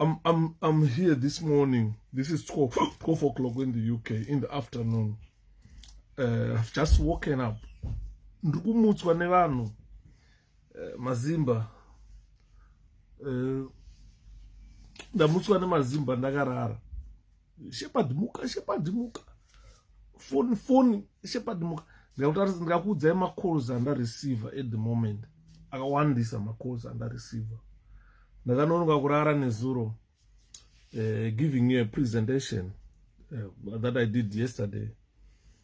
I'm, I'm, I'm here this morning. This is 12, 12 o'clock in the UK, in the afternoon. Uh, I've just woken up. Ndikumutswa nevanhu uh, mazimba. Uh, ndamutswa nemazimba ndakarara. shepard muka shepard muka foni foni shepard muka ndakutaridza ndikakuudzai macalls andareceiver at the moment akawandisa macalls andareceiver ndakanonoka kurara nezuro uh, giving you a presentation uh, that i did yesterday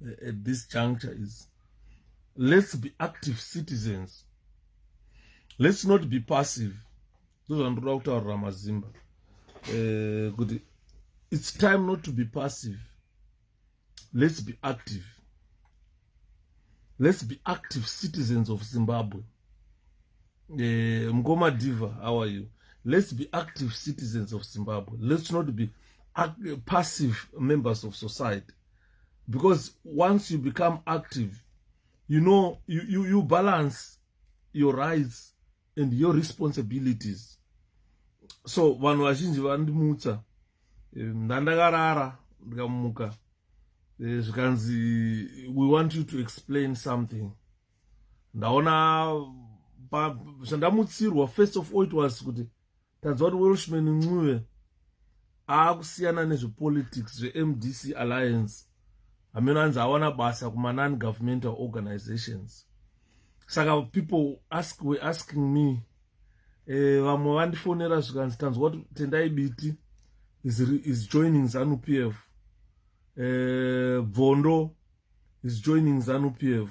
uh, at this juncture is let's be active citizens let's not be passive ndozvandoda kutaurira mazimba eh, kuti it's time not to be passive let's be active let's be active citizens of zimbabwe eh, mkoma diva how are you let's be active citizens of zimbabwe let's not be passive members of society because once you become active you know you, you, you balance your rights and your responsibilities so vanhu vazhinji vandimutsa eh, ndandakarara ndikamuka eh, zvikanzi we want you to explain something ndaona zvandamutsirwa first of all it was kuti tanzwa kuti welshman ncube aakusiyana nezvepolitics zvemdc alliance hameno anzi awana basa kumanon governmental organizations saka people ask we asking me eh, vamwe vandifonera zvikanzi tanzwa kuti tendai biti is, is joining zanu p f eh, bvondo is joining zanu p f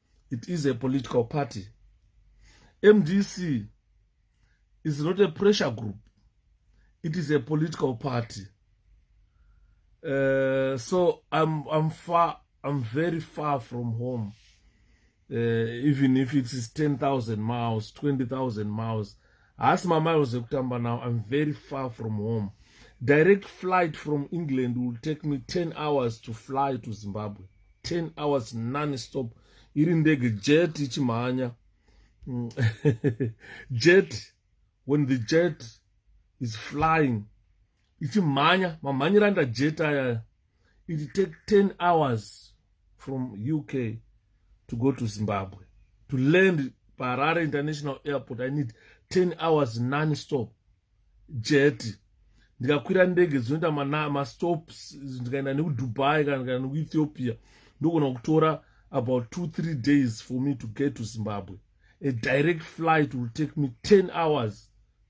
it is a political party mdc is not a pressure group it is a political party uh, so I'm, I'm far I'm very far from home uh, even if it is 10,000 miles 20,000 miles haasi mamiles ekutamba now im very far from home direct flight from england will take me 10 hours to fly to zimbabwe 10 hours non stop iri ndege jet ichimhanya mm. jet when the jet is flying ichimhanya mamhanyira ndajet ayaya it take 10 hours from uk to go to zimbabwe to land paharare international airport i need 10 hours non stop jet ndikakwira ndege dzinoita mastops ndikaenda nekudubai kana ndikaenda nekuethiopia ndogona kutora about two three days for me to get to zimbabwe a direct flight will take me 10 hours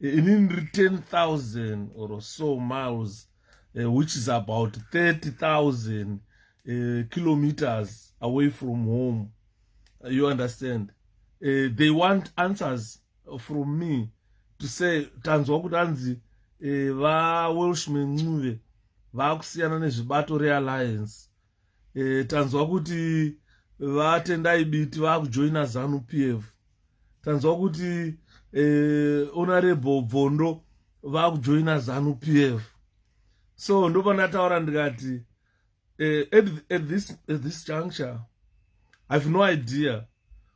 ini ndiri 10000 or so miles uh, which is about 30000 uh, eh, kilometers away from home uh, you understand uh, they want answers from me to say tanzwa kuti anzi uh, vawelshman ncuve vaakusiyana nezvibato realliance e, tanzwa kuti vatendai biti vakujoina zanu p f tanzwa kuti e, onarebo bvondo vakujoina zanu p f so ndopandataura ndikati e, at, at, this, at this juncture ive no idea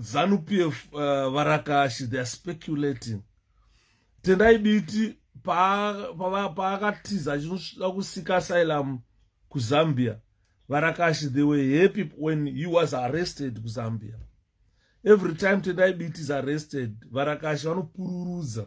zanu pf uh, eh, varakashi theyare speculating tendai biti paakatiza pa, pa achinoda kusika asylum kuzambia varakashi they were happy when he was arrested kuzambia every time tendai biti is arrested varakashi vanopururudza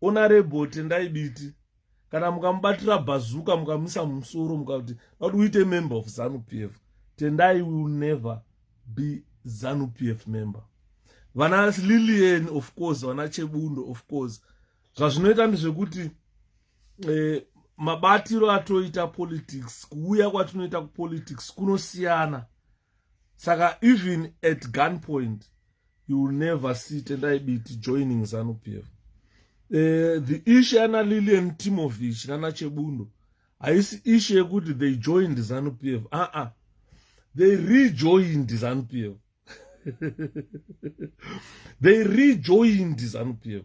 honorable tendai biti kana mukamubatira bhazuka mukamisa mumusoro mukakuti noti uite member of zanu p f tendai will never be zanu p f member vana lilian of course vana chebundo of course zvazvinoita ndezvekuti eh, mabatiro atoita politics kuuya kwatinoita kupolitics kunosiyana saka even at gun point you will never see tendai biti joining zanu p f uh, eh, the issue yana lilian timovich nana chebundo haisi issue yekuti they joined zanu p f aa uh -uh. they rejoined zanu p f they rejoined zanu p f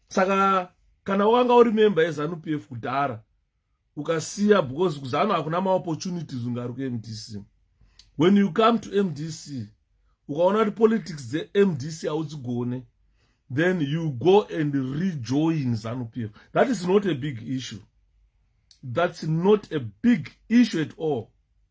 saka kana wanga uri member yezanup f kudhara ukasiya because kuzanu hakuna maopportunities ungaruke mdc when you come to mdc ukaona kuti politics dzemdc haudzigone then you go and rejoin zanup f that is not a big issue that's not a big issue at all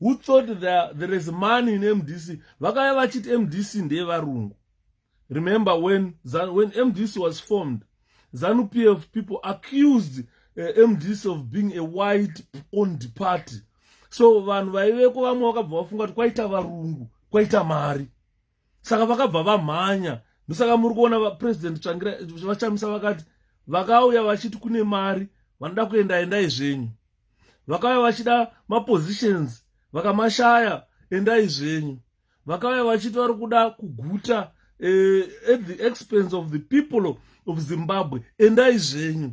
who thought there, there is money in mdc vakaya vachiti mdc ndeyevarungu remember when, when mdc was formed zanu p f people accused uh, eh, mdc of being a white owned party so vanhu vaiveko vamwe vakabva vafunga kuti kwaita varungu kwaita mari saka vakabva vamhanya ndosaka muri kuona vapresident tsvangira vachamisa vakati vakauya vachiti kune mari vanoda kuenda endai zvenyu vakauya vachida mapositions vakamashaya endai zvenyu vakauya vachiti vari kuda kuguta uh, at the expense of the people of zimbabwe endai zvenyu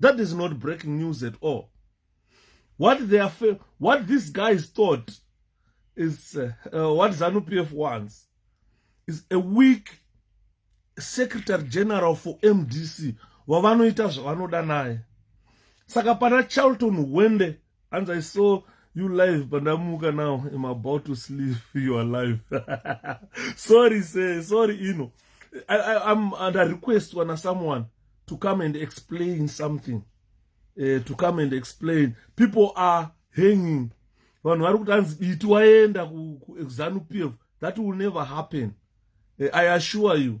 That is not breaking news at all. What they are, what these guys thought is uh, uh, what ZANU PF wants is a weak secretary general for MDC wavanoita zvavanoda naye. Saka pana Charlton Wende hanzi i saw you live pandamuka now im about to sleep you are live sorry se sorry ino I, I, I'm under request wana someone to come and explain something uh, to come and explain people are hanging vanhu vari kuti hanzi diti waenda kuexanupf that will never happen uh, i assure you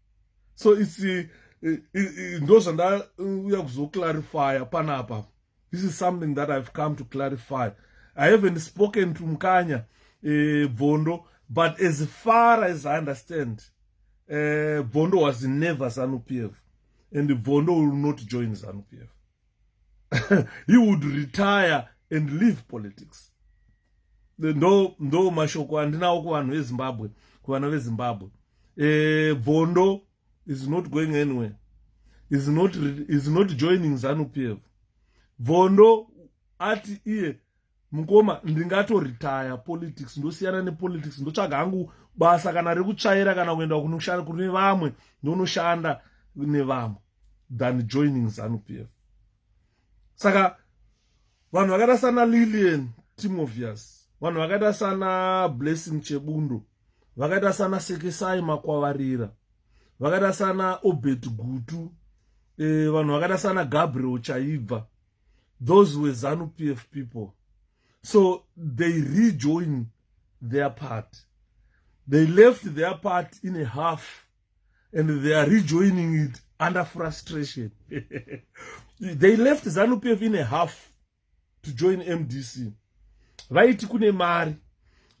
so its eh, eh, eh, ndo zvandauya kuzoclarifya panapa this is something that ihave come to clarify i haven't spoken to mukanya bvondo uh, but as far as i understand bvondo uh, was never zanupf and bvondo will not join zanupf he would retire and leave politics ndo ndo mashoko andinawo kuvanhu vezimbabwe kuvana vezimbabwe eh, bvondo is not going anywhere is not, is not joining zanu pf bvondo ati iye mukoma ndingatoritaya politics ndosiyana nepolitics ndotsvaga hangu basa kana rekutsvaira kana kuenda kunoshanda kune vamwe ndonoshanda nevamwe than joining zanu p f saka vanhu vakaita sana lilian timovius vanhu vakaita sana blessing chebundo vakaita sana sekesai makwavarira vakaita sana obert gutu e, vanhu vakaita sana gabriel chaibva those were zanu pf people so they rejoin their party they left their party in a half and they are rejoining it under frustration they left zanu pf in a half to join mdc vaiti kune mari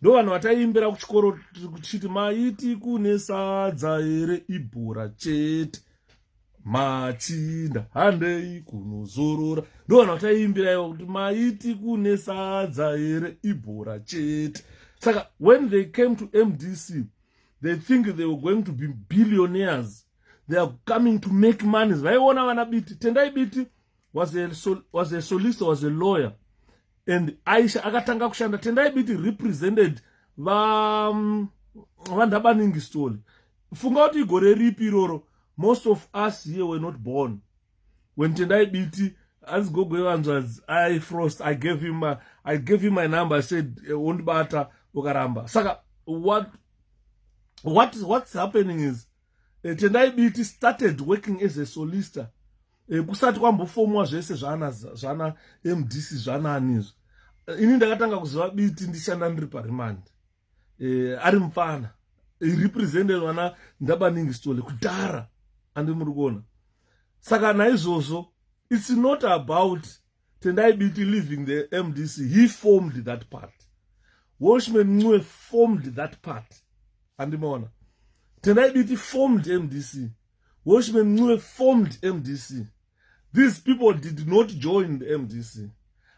ndo vanhu vataiimbira kuchikoro tichiti maiti kune sadza here ibhora chete machinda handei kunozorora ndovana vataiimbira ivo kuti maiti kune sadza here ibhora chete saka when they came to mdc they think they were going to be billionaires they are coming to make money vaiona vana biti tendai biti was a, sol was a solicitor was a lawyer and aisha akatanga kushanda tendai biti represented um, vandhabaningi stole funga kuti igore ripi iroro most of us here were not born when tendai biti hanzi gogo yevanzvadzi i frost i gave him my, i gave him my number i said eh, wondibata uh, ukaramba saka what, what what's happening is uh, tendai biti started working as a solicitor e, kusati kwambofomwa zvese zvana zvana mdc zvanani izvi eh, ini ndakatanga kuziva biti ndishanda ndiri parimandi e, ari mupfana represented vana ndabaningi stole kudhara andi muri kuona saka naizvozvo it's not about tendai biti leaving the mdc he formed that party washman ncue formed that party andimaona tendai biti formed mdc washman ncue formed mdc these people did not join the mdc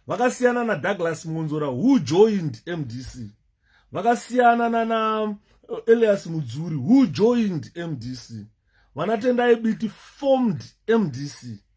vakasiyana nadouglas monzora who joined mdc vakasiyana nana uh, elias mudzuri who joined mdc vanatendai biti formed mdc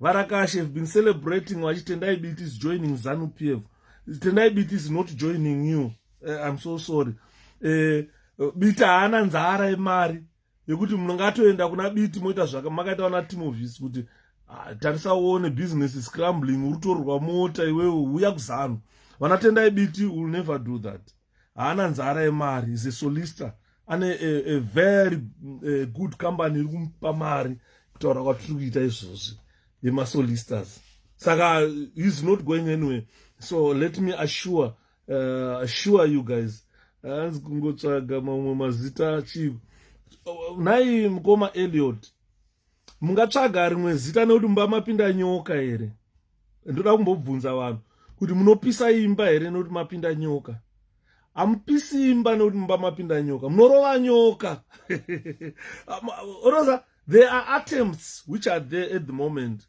varakashe have been celebrating vachitendai biti is joining zanu p f tendai biti is not joining you uh, i'm so sorry uh, biti haana nzara yemari yekuti munongatoenda kuna biti moita zvaka makaita vana timovis kuti ah, tarisa uone business is crumbling urutorwa mota iwewe uya kuzanu vanatendai biti will never do that haana nzara yemari is a solicitor ane a, a very a good company iri kumupa mari kutaura kwatiri kuita izvozvi yemasolicitors saka he's not going anyway so let me assure uh, assure you guys hanzi kungotsvaga mamwe mazita chii nhai mukoma eliot mungatsvaga rimwe zita nekuti mumba mapinda nyoka here ndoda kumbobvunza vanhu kuti munopisa imba here nekuti mapinda nyoka hamupisi imba nekuti mumba mapinda nyoka munorova nyoka rosa there are attempts which are there at the moment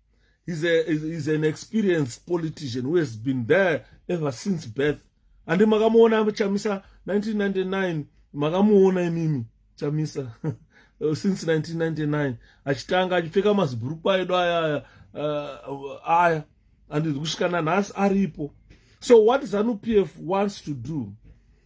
he's, a, he's an experienced politician who has been there ever since birth andi makamuona chamisa 1999 makamuona imimi chamisa uh, since 1999 achitanga achipfeka mazibhurukwa edu aya uh, aya and kusvika nanhasi aripo so what zanu p f wants to do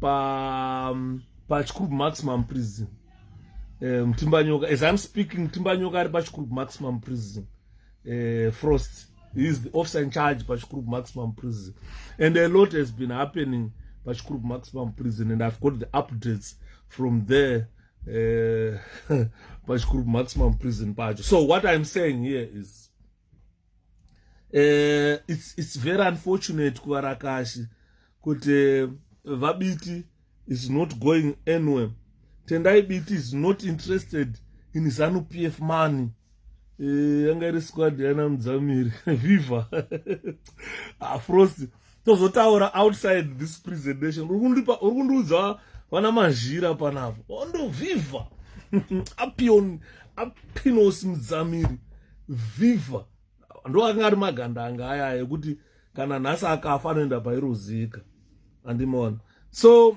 pa um, pachikuru maximum prison eh, mutimbanyoka um, as i'm speaking mutimbanyoka ari pachikuru maximum prison uh, frost he is the officer in charge pachikuru maximum prison and a lot has been happening pachikuru maximum prison and i've got the updates from there uh, pachikuru maximum prison pacho so what i'm saying here is uh, it's, it's very unfortunate kuvarakashi kuti eh, vabiti is not going anywhere tendai biti is not interested in zanu p f money eh, yanga iri squad yana mudzamiri viva afrost ah, tozotaura outside this presentation uri kundipa uri kundiudza vana mazhira panapo ondoviva apion apinos mudzamiri viva ndo anga ari maganda anga aya ekuti kana nhasi akafa anoenda pairozika andimona so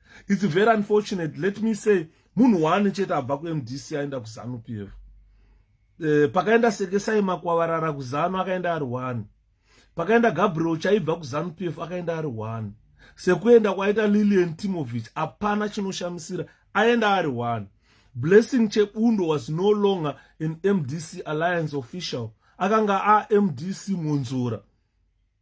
its very unfortunate let me say munhu waane chete abva kumdc aenda kuzanu p f e, pakaenda sekesai makwavarara kuzanu akaenda ari one pakaenda gabriel chaibva kuzanu p f akaenda ari one sekuenda kwaita lilian timovich hapana chinoshamisira aenda ari one blessing chebundo was no longer an mdc alliance official akanga amdc monzora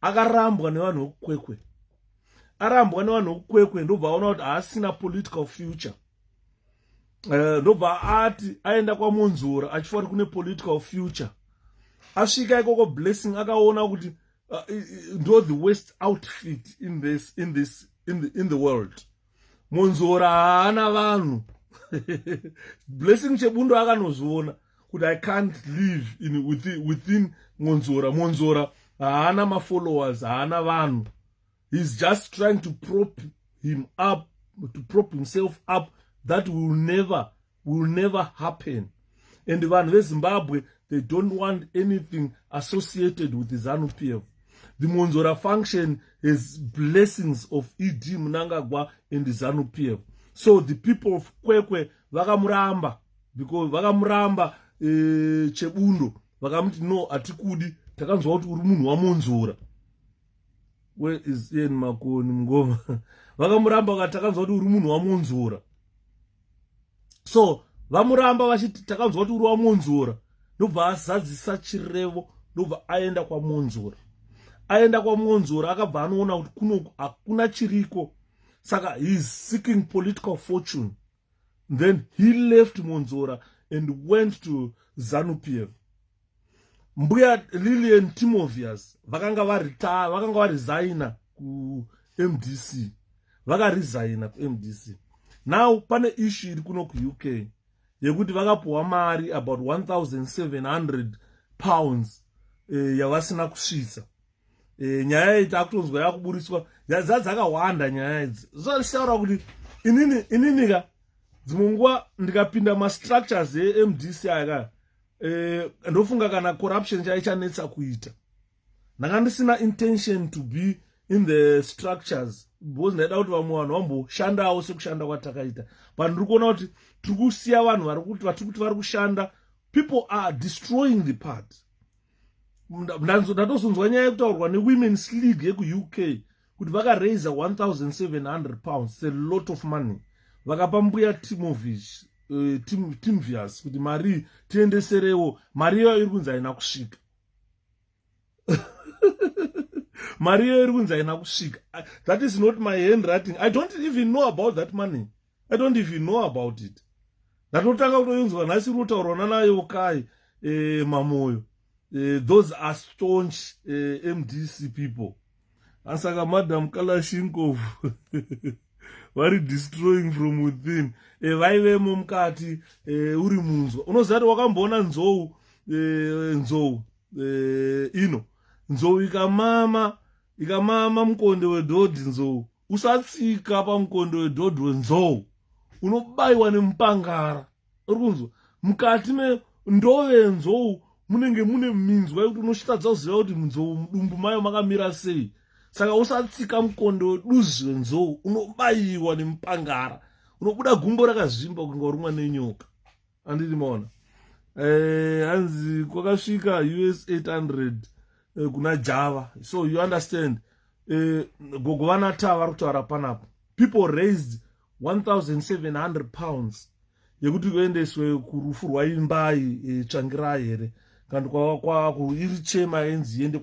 akarambwa nevanhu vekukwekwe arambwa nevanhu vekukwekwe ndobva aona kuti haasina political future eh, ndobva ati aenda kwamonzora achifanira kune political future asvika ikoko blessing akaona kuti uh, ndo the west outfit in this, in this in the, in the world Monzora haana vanhu Blessing Chebundo akanozviona kuti I can't live in within, within Monzora. Monzora haana mafollowers, haana vanhu. He's just trying to prop him up, to prop himself up that will never will never happen and vanhu vezimbabwe they don't want anything associated with zanu p f the monzora function has blessings of ed munangagwa and zanu p f so the people of kwekwe vakamuramba because vakamuramba e, chebundo vakamuti no hatikudi takanzwa kuti uri munhu wamonzora where is ian makoni mngoma vakamuramba vakati takanzwa kuti uri munhu wamunzura so vamuramba vachiti takanzwa kuti uri wamunzura ndobva azadzisa chirevo ndobva aenda kwamunzura aenda kwamunzura akabva anoona kuti kuno hakuna chiriko saka heis seeking political fortune then he left munzura and went to zanupf mbuya Lillian Timovius vakanga varitaya vakanga varizaina kuMDC vakarizaina kuMDC now pane issue iri kuno kuUK yekuti vakapuwa mari about 1700 pounds eh, yavasina kusvitsa e, nyaya iyi takutonzwa yakuburitswa dza dzakawanda nyaya idzi zvaishtaura kuti inini inini ka dzimwe nguva ndikapinda mastructures emdc aya ka e, ndofunga kana corruption chaichanetsa kuita ndanga ndisina intention to be in the structures because ndaida kuti vamwe vanhu vamboshandawo sekushanda kwatakaita but ndiri kuona kuti tiri kusiya vanhu vari kuti vatiri kuti vari kushanda people are destroying the party ndatosunzwa nyaya yekutaurwa newomens league yekuuk kuti vakaraiser 1700 pounds a lot of money vakapa mbuya timovish uh, eh, tim, timvius kuti mari tiendeserewo mari iyoyo iri kunzi haina kusvika mari iyoyo iri kunzi haina kusvika that is not my hand writing i don't even know about that money i don't even know about it ndatotanga kutoinzwa nhasi iri kutaurwa nanayokai e, eh, mamoyo e, those are staunch e, eh, mdc people asaka madam kalashingov vari destroying from within e, vaivemo mukati e, uri munzwa unoziva kuti wakamboona nzou e, nzou e, ino nzou ikamama ikamama mukonde wedhodhi nzou usatsika pamukondo wedhodho nzou unobayiwa nemupangara uri kunzwa mukati mendove nzou munenge mune minzwa yekuti unosvitadza kuziva kuti nzou mudumbu mayo makamira sei saka usatsika mukondo weduzvi renzou unobayiwa nemupangara unobuda gumbo rakazvimba kunge warumwa nenyoka andidi maona eh, hanzi kwakasvika us 800 eh, kuna java so you understand eh, gogo vanata vari kutaura panapa people raised 1700 pounds yekuti kuendeswe kurufu rwaimbai e, tsvangirai here kandi kwava iri chema yenzi iende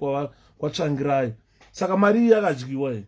kwatsvangirai saka mari iyi yakadyiwa here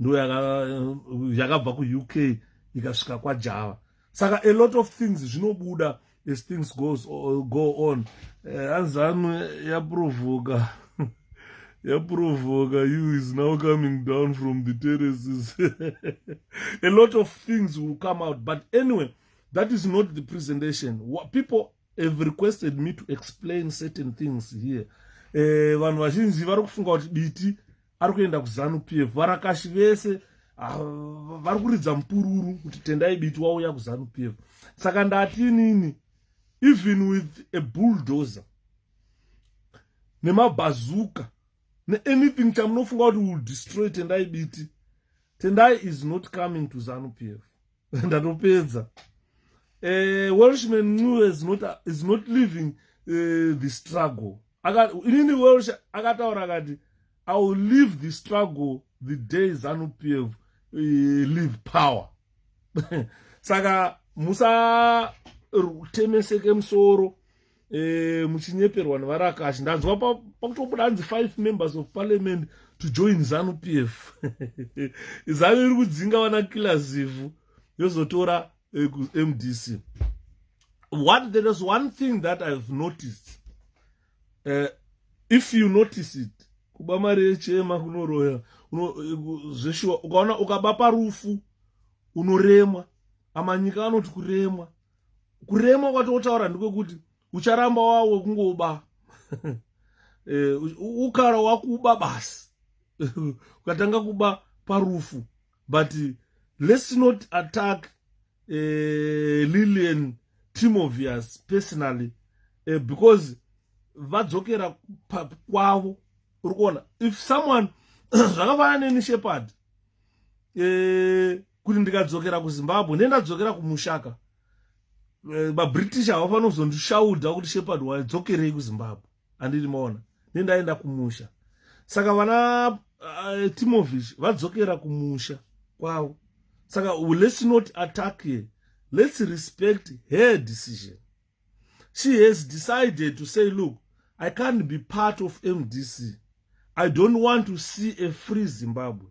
ndo yakabva kuuk ikasvika kwajava saka a lot of things zvinobuda as things goes, go on eh, hanzanu uh, yaprovoka yaprovoka you is now coming down from the terraces a lot of things will come out but anyway that is not the presentation What people have requested me to explain certain things here eh, vanhu uh, vazhinji vari kufunga kuti biti ari kuenda kuzanu p f varakashi vese ah, vari kuridza mupururu kuti tendai biti wauya kuzanu p f saka ndati inini even with a bulldozer nemabhazuka neanything chamunofunga kuti will destroy tendai biti tendai is not coming to zanu p f ndatopedza uh, welshman ncube is not, is not living uh, the struggle inini welsh akataura akati i will leave the struggle the day zanup f uh, eh, leave power saka musatemeseke musoro eh, muchinyeperwa nevarakashi ndanzwa pakutobuda hanzi five members of parliament to join zanu p f zanu iri kudzinga vana kila zivhu yozotora eh, mdc what there is one thing that ihave noticed uh, if you notice it kuba mari yechema kunoroya zveshuwa ukaona ukaba parufu unoremwa amanyika anoti kuremwa kurema kwatotaura ndekwekuti ucharamba wawe kungoba eh, ukara wakuba basi ukatanga kuba parufu but let's not attack uh, lilian timovius personally uh, because vadzokera kwavo uri kuona if someone zvakafanana neni shepard uh, kuti ndikadzokera kuzimbabwe ndendadzokera kumushaka eh, vabritish havafanira kuzondishaudha kuti shepard wadzokerei kuzimbabwe andiri maona nendaenda kumusha saka vana uh, eh, timovich vadzokera kumusha kwavo saka let's not attack her let's respect her decision she has decided to say look i can't be part of mdc i don't want to see a free zimbabwe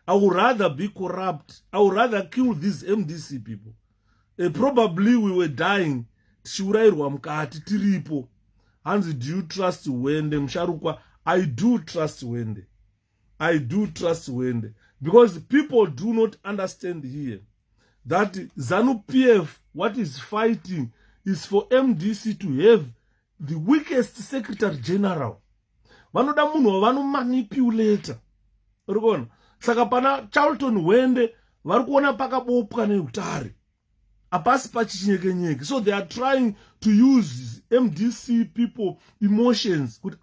i would rather be corrupt i would rather kill these mdc people uh, probably we were dying tichiurayirwa mukati tiripo hanzi do you trust wende musharukwa i do trust wende i do trust wende because people do not understand here that zanu pf what is fighting is for mdc to have the weakest secretary general vanoda munhu wavanomanipulata uri kuona saka pana charlton wende vari kuona pakabopwa neutare hapasi pachichinyekenyeke so they are trying to use mdc people emotions kuti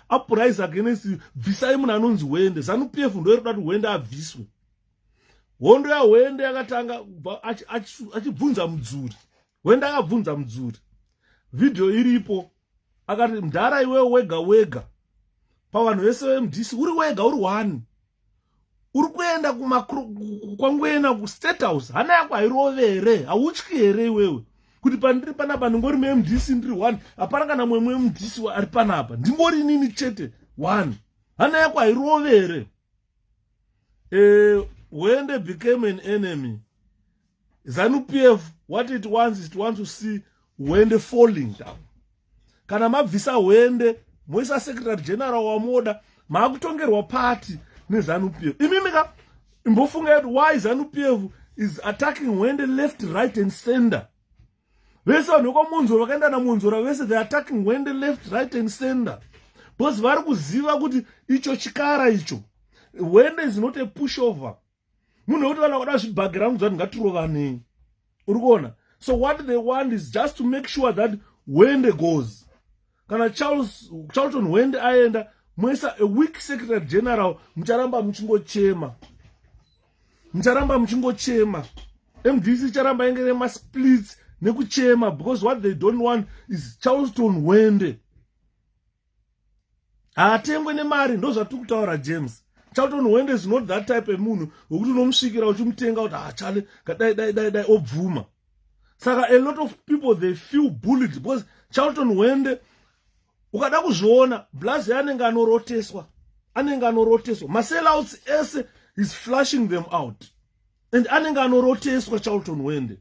apurise against bvisai munhu anonzi hwende zanu p f ndo iri kuda kuti hwende abviswe hondo yahwende yakatanga achibvunza mudzuri hwende akabvunza mudzuri vhidhiyo iripo akati mdhara iwewe wega wega pavanhu vese vemdisi uri wega uri one uri kuenda kwangwena kustate house hana yako hairove here hautyi here iwewe kuti pandiri panapa ndingori mdc ndiri one hapana kana mwemwe mdc ari panapa ndingori nini chete one hana yako hairove here uh, when they became an enemy zanu pf what it wants is to want to see hwende falling down kana mabvisa hwende moisa secretary general wamoda maakutongerwa party nezanu pf imimika imbofunga kuti why zanu pf is attacking hwende left right and center vese vanhu vekwamonzora vakaenda namonzora vese the attacking wende left right and center because vari kuziva kuti icho chikara icho wende is not a push over munhu wekuti vanhu vakuda zvibhagera vangu zvati ngatirovanei uri kuona so what they want is just to make sure that wende goes kana charles charlton wend aenda moisa a weak secretary general mucharamba muchingochema mucharamba muchingochema mdc icharamba inge nemasplits nekuchema because what they don't want is charleston wende haatengwe nemari ndo zvatiri kutaura james charlton wende is not that type emunhu wekuti unomusvikira uchimutenga kuti hachale ah, kadai dai dai dai obvuma saka a lot of people they feel bullied because charlton hwende ukada kuzviona blaz anenge anoroteswa anenge anoroteswa maselouts ese is flushing them out and anenge anoroteswa charlton hwende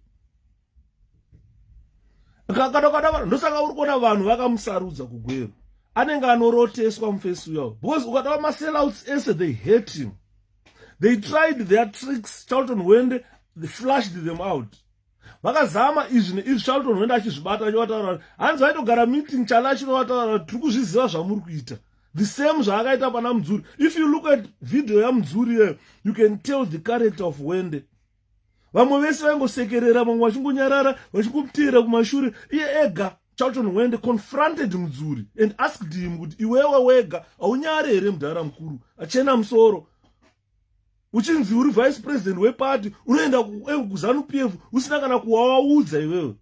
kakadakadavana ndosaka uri kuona vanhu vakamusarudza kugwero anenge anoroteswa mufesi uyawo because ukadava maselouts ese they hate him they tried their tricks charlton hwende they flushed them out vakazama izvi neizvi charlton hwende achizvibata achivataura hanzi vaitogara meeting chana achinovataura tiri kuzviziva zvamuri kuita the same zvaakaita pana mudzuri if you look at video yamudzuri iyeyo you can tell the character of hwende vamwe vese vaingosekerera vamwe vachingonyarara vachingopteera kumashure iye ega charlton wende confronted mudzuri and asked him kuti iwewe wega haunyare here mudhara mukuru achena musoro uchinzi uri vice president wepati unoenda eh, kuzanu p f usina kana kuwawaudza iwewe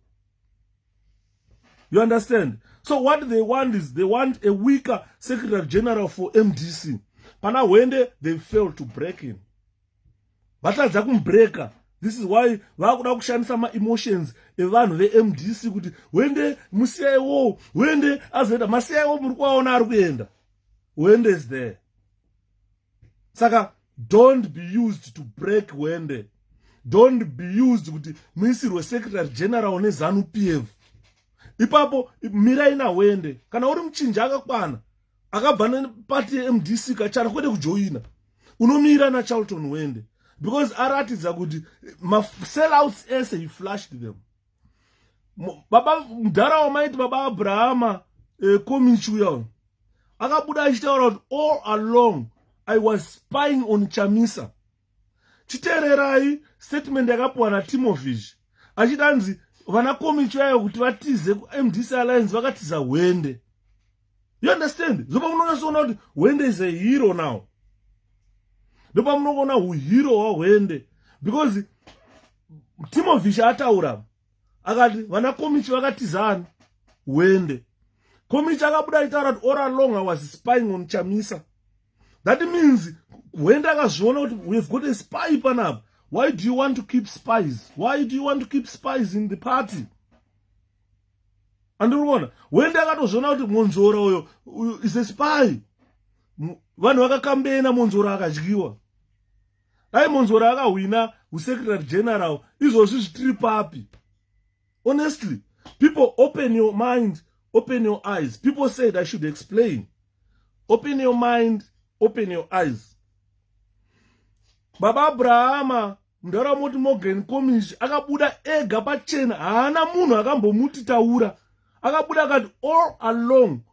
you understand so what they want is they want a weaker secretary general for mdc pana hwende they fail to break in vatadza kumubreaker this is why vakuda kushandisa maemotions evanhu vemdc kuti wende musiyaiwo wende azoenda masiyaiwo muri kuvaona ari kuenda wende is there saka don't be used to break wende don't be used kuti muisirwe secretary general nezanu p f ipapo mirai nawende kana uri muchinja akakwana akabva nepati mdc kachara kwete kujoina unomira nacharlton wende because aratidza kuti masellouts ese he flashed them baba mudhara wamaiti baba abrahama eh, komichi uya uyo akabuda achitaura kuti all along i was spying on chamisa chiteererai statement yakapuwa natimovish achiti anzi vana komicho yayo kuti vatize kumdc alliance vakatiza hwende you understand ndopa munonyasoona kuti hwende is a hero now ndopa munongoona uhiro hwahwende because timovish ataura akati vana komichi vakatizana wende komichi akabuda aitaura kuti ora long was spying on chamisa that means wende akazviona kuti we've got a spy panapa why do you want to keep spies why do you want to keep spies in the party andiri kuona wende akatozviona kuti monzora uyo is a spy vanhu vakakambena monzora akadyiwa dai monzora akahwina usecretary general izvozvi zvitiri papi honestly people open your mind open your eyes people said i should explain open your mind open your eyes baba abrahama mundarawa moti morgan comish akabuda ega pachena haana munhu akambomuti taura akabuda akati all along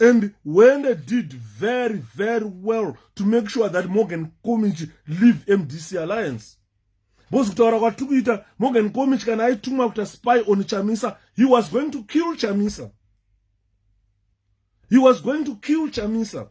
and when they did very very well to make sure that morgan comich leave mdc alliance because kutaura kwatiri kuita morgan comich kana aitumwa kuita spy on chamisa he was going to kill chamisa he was going to kill chamisa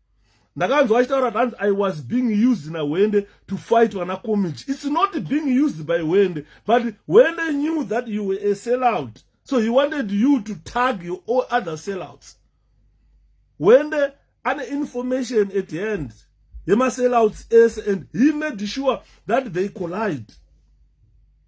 ndakanzwa achitaura hanzi i was being used nahwende to fight vana comit its not being used by hwende but hwende knew that you were a sellout so he wanted you to tag your all other sellouts hwende ane information at hand yemasellouts ese and he made sure that they collide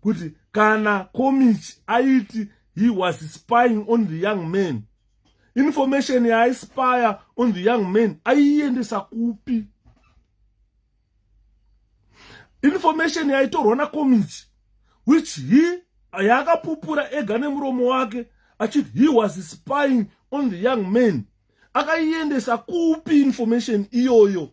kuti kana komichi aiti he was spying on the young man information yaaispire on the young man aiiendesa kupi information yaitorwa nakomichi which he yaakapupura ega nemuromo wake achiti he was spying on the young man akaiendesa kupi information iyoyo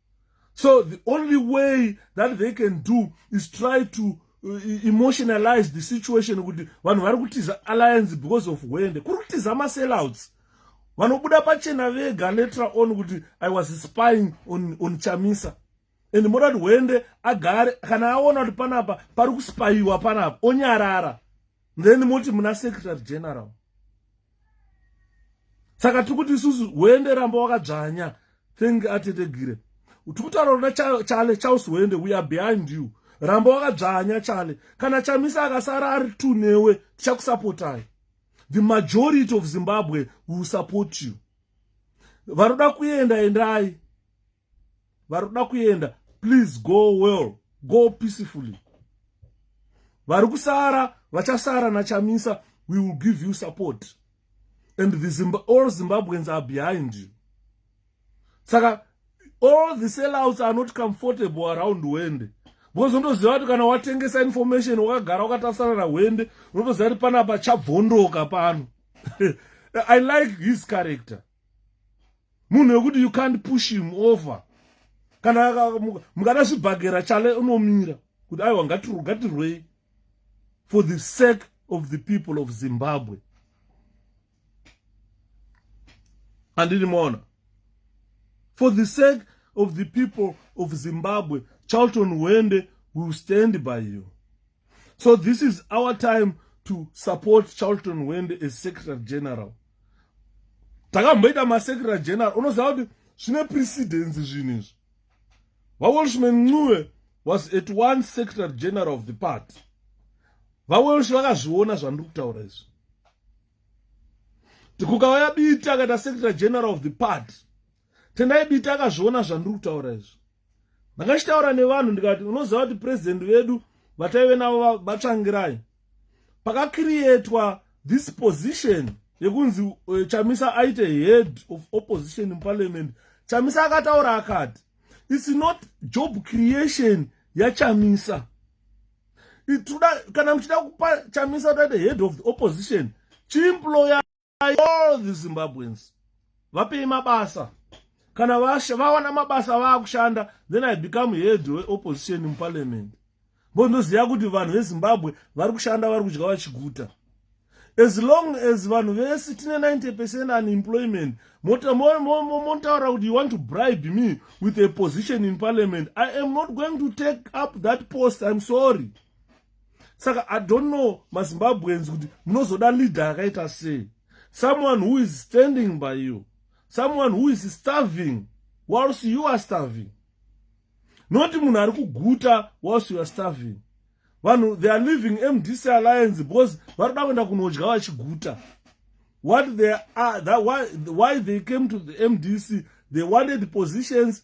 so the only way that they can do is try to uh, emotionalize the situation kuti vanhu vari kutiza alliance because of hwende kuri kutiza masellouts vanobuda pachena vega later on kuti i was spying on, on chamisa and moda kuti hwende agare kana aona kuti panapa pari kuspaiwa panapa onyarara then moti muna secretary general saka tiri kuti isusu hwende ramba wakadzvanya thank atetegire tiri kutaura rona chale chaus hwende we are behind you ramba wakadzvanya chale kana chamisa akasara ari two newe tichakusapotai the majority of zimbabwe will support you vanoda kuenda endai vari kuda kuenda please go well go peacefully vari kusara vachasara nachamisa we will give you support and the Zimba, all zimbabweans are behind you saka all the sellouts are not comfortable around wende because unotoziva kuti kana watengesa information wakagara wakatasana nahwende unotoziva kuti panapa chabvondoka pano i like his character munhu wekuti you can't push him over kana mukada zvibhagera chale unomira kuti aiwa ngatirwei for the sake of the people of zimbabwe andini maona for the sake of the people of zimbabwe charlton wende will stand by you so this is our time to support charlton wende as secretary general takamboita masecretary general unoziva kuti zvine precedence zvinhu izvi vawelshman ncube was at one secretary general of the party vawelsh vakazviona zvandiri kutaura izvi tikukauya biti akaita secretary general of the party tendai biti akazviona zvandiri kutaura izvi ndakachitaura nevanhu ndikati unoziva kuti president vedu vataive navo vatsvangirai pakakiriyetwa this position yekunzi uh, chamisa aite head of opposition in parliament chamisa akataura akati its not job creation yachamisa ituda kana muchida kupa chamisa toite head of the opposition chimployer all the zimbabweans vapei mabasa kana vawana mabasa vaakushanda then i become head weopposition muparliament bo ndoziva kuti vanhu vezimbabwe vari kushanda vari kudya vachiguta as long as vanhu vese tine 90 percent unemployment motaura kuti you want to bribe me with a position in parliament i am not going to take up that post im sorry saka i don't know mazimbabweans kuti munozoda leader akaita sei someone who is standing by you someone who is starving whilst you are starving not munhu ari kuguta whilst you are starving vanhu they are living mdc alliance because vari kuda kuenda kunodya vachiguta what they are that why, why they came to the mdc they wanted positions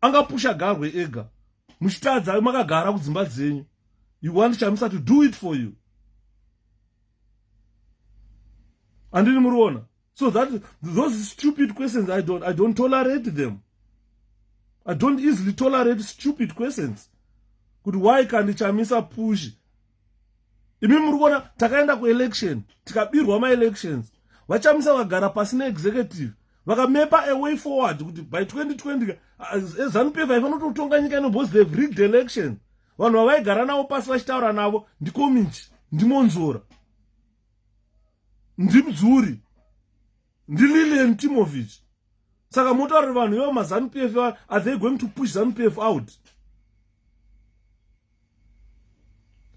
angapusha garwe ega muchitadza makagara kudzimba dzenyu you want chamisa to do it for you andini muriona so that those stupid questions i don't, I don't tolerate them i don't easily tolerate stupid questions kuti why kandichamisa push imi muri kuona takaenda kuelection tikabirwa maelections vachamisa vagara pasi neexecutive vakamepa away forward kuti by 2020 eh, zanupf ifanototonga nyika ino because they've rigged election vanhu vavaigara navo pasi vachitaura navo ndikominji ndimonzora ndimdzuri ndililian timovich saka motaura vanhu ivo mazanu pf are they going to push zanu pf out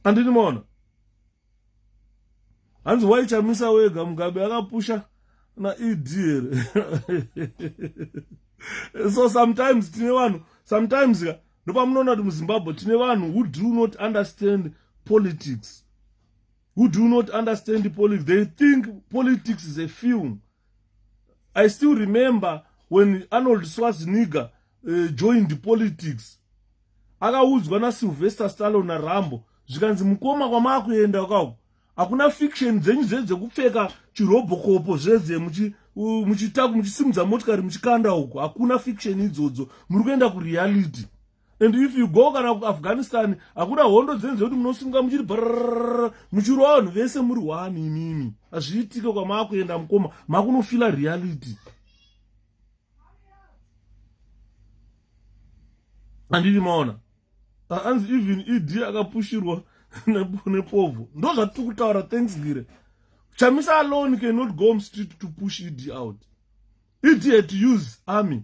andini maona hanzi waichamisa wega mugabe akapusha naed here so sometimes tine vanhu sometimes ka ndopamunoona kuti muzimbabwe tine vanhu who do not understand politics who do not understand the politics they think politics is a film i still remember when arnold swaziniga uh, joined the politics akaudzwa nasylvester stalo narambo zvikanzi mukoma kwamaakuenda ukako hakuna fiction dzenyu zve dzekupfeka chirobokopo zveze muchitaku muchisimudza motikari muchikanda uko hakuna fiction idzodzo muri kuenda kureality and if you go kana kuafghanistan hakuna hondo dzenze kuti munosunga muchiri brr muchirwa vanhu vese muri wani imimi hazviitike kwamaakuenda mukoma makunofila reality andiri maona anzi even ed akapushirwa nepovho ndo zvatiri kutaura thanks ngire chamisa alone cannot go mstreet to push ed out ed had to use army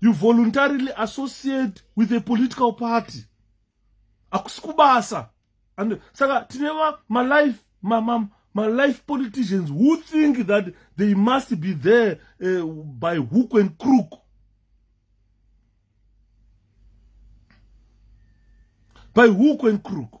you voluntarily associate with a political party hakusi kubasa and saka tine malife ma, ma, ma, ma life politicians who think that they must be there uh, by hook and crook by hook and crook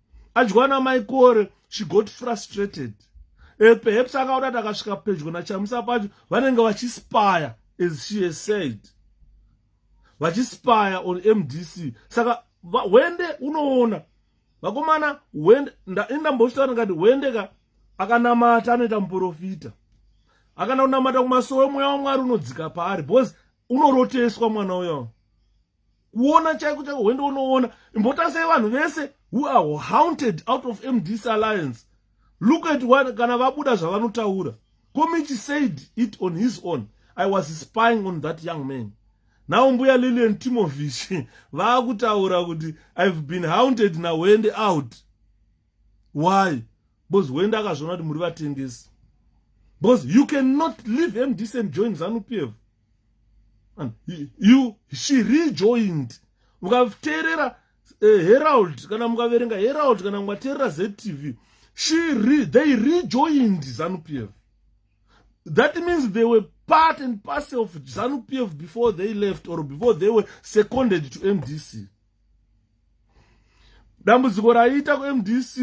Adyiwana mai Kore, she got frustrated. Uh, perhaps akaona kuti akasvika pedyo naChamisa pacho vanenge vachispire as she has said. Vachispire on MDC. Saka wende unoona vakomana wende indambozvitaura ngati wende ka akanamata anoita muprofita akana kunamata kumasowe mweya wamwari unodzika paari because unoroteswa mwana uyo kuona chaiko chaiko hwende unoona imbotasai vanhu vese who are haunted out of mdc alliance look at one kana vabuda zvavanotaura komichi said it on his own i was spying on that young man now mbuya lilian timovish vaakutaura kuti i've been haunted nahwende out why because wende akazviona kuti muri vatengesi because you cannot leave mdc and join zanu p f and you she rejoined mukateerera uh, herald kana mukaverenga herald kana mukateerera ztv she re, they rejoined zanu p f that means they were part and parcel of zanu p f before they left or before they were seconded to mdc dambudziko raiita kumdc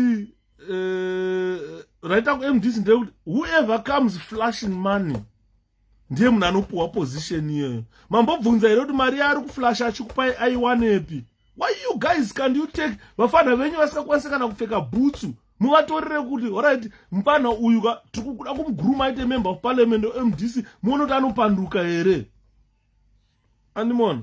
eh, raita kumdc ndeyekuti whoever comes flashing money ndiye munhu anopuhwa position iyoyo mambobvunza here kuti mari yaari kuflasha achikupai aiwanepi why you guys can you take vafana venyu vasingakwanise kana kupfeka bhutsu muvatorere kuti orit mupana uyu ka tiri kuda kumuguruma aite member of parliament mdc muone kuti anopanduka here andimona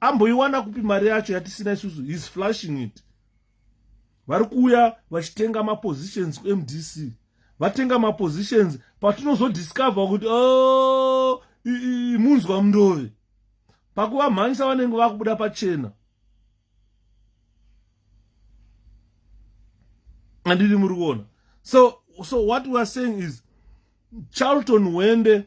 amboiwana kupi mari yacho yatisina isusu his flushing it vari kuuya vachitenga mapositions kumdc vatenga mapositions patinozodiscover kuti o oh, munzwa mundove pakuvamhanyisa vanenge vakubuda pachena andiri muri kuona so so what weare saying is charlton wende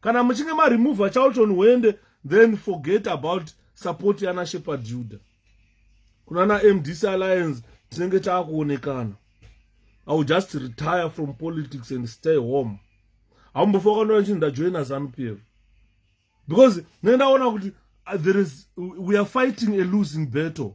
kana muchinge maremova charlton hwende then forget about support yana shepherd juda kuna na mdc alliance tinenge taakuonekana i will just retire from politics and stay home hamumbofa wakandoa nchinzi ndajoina zanupf because ndenge ndaona kuti uh, there is we are fighting a losing battle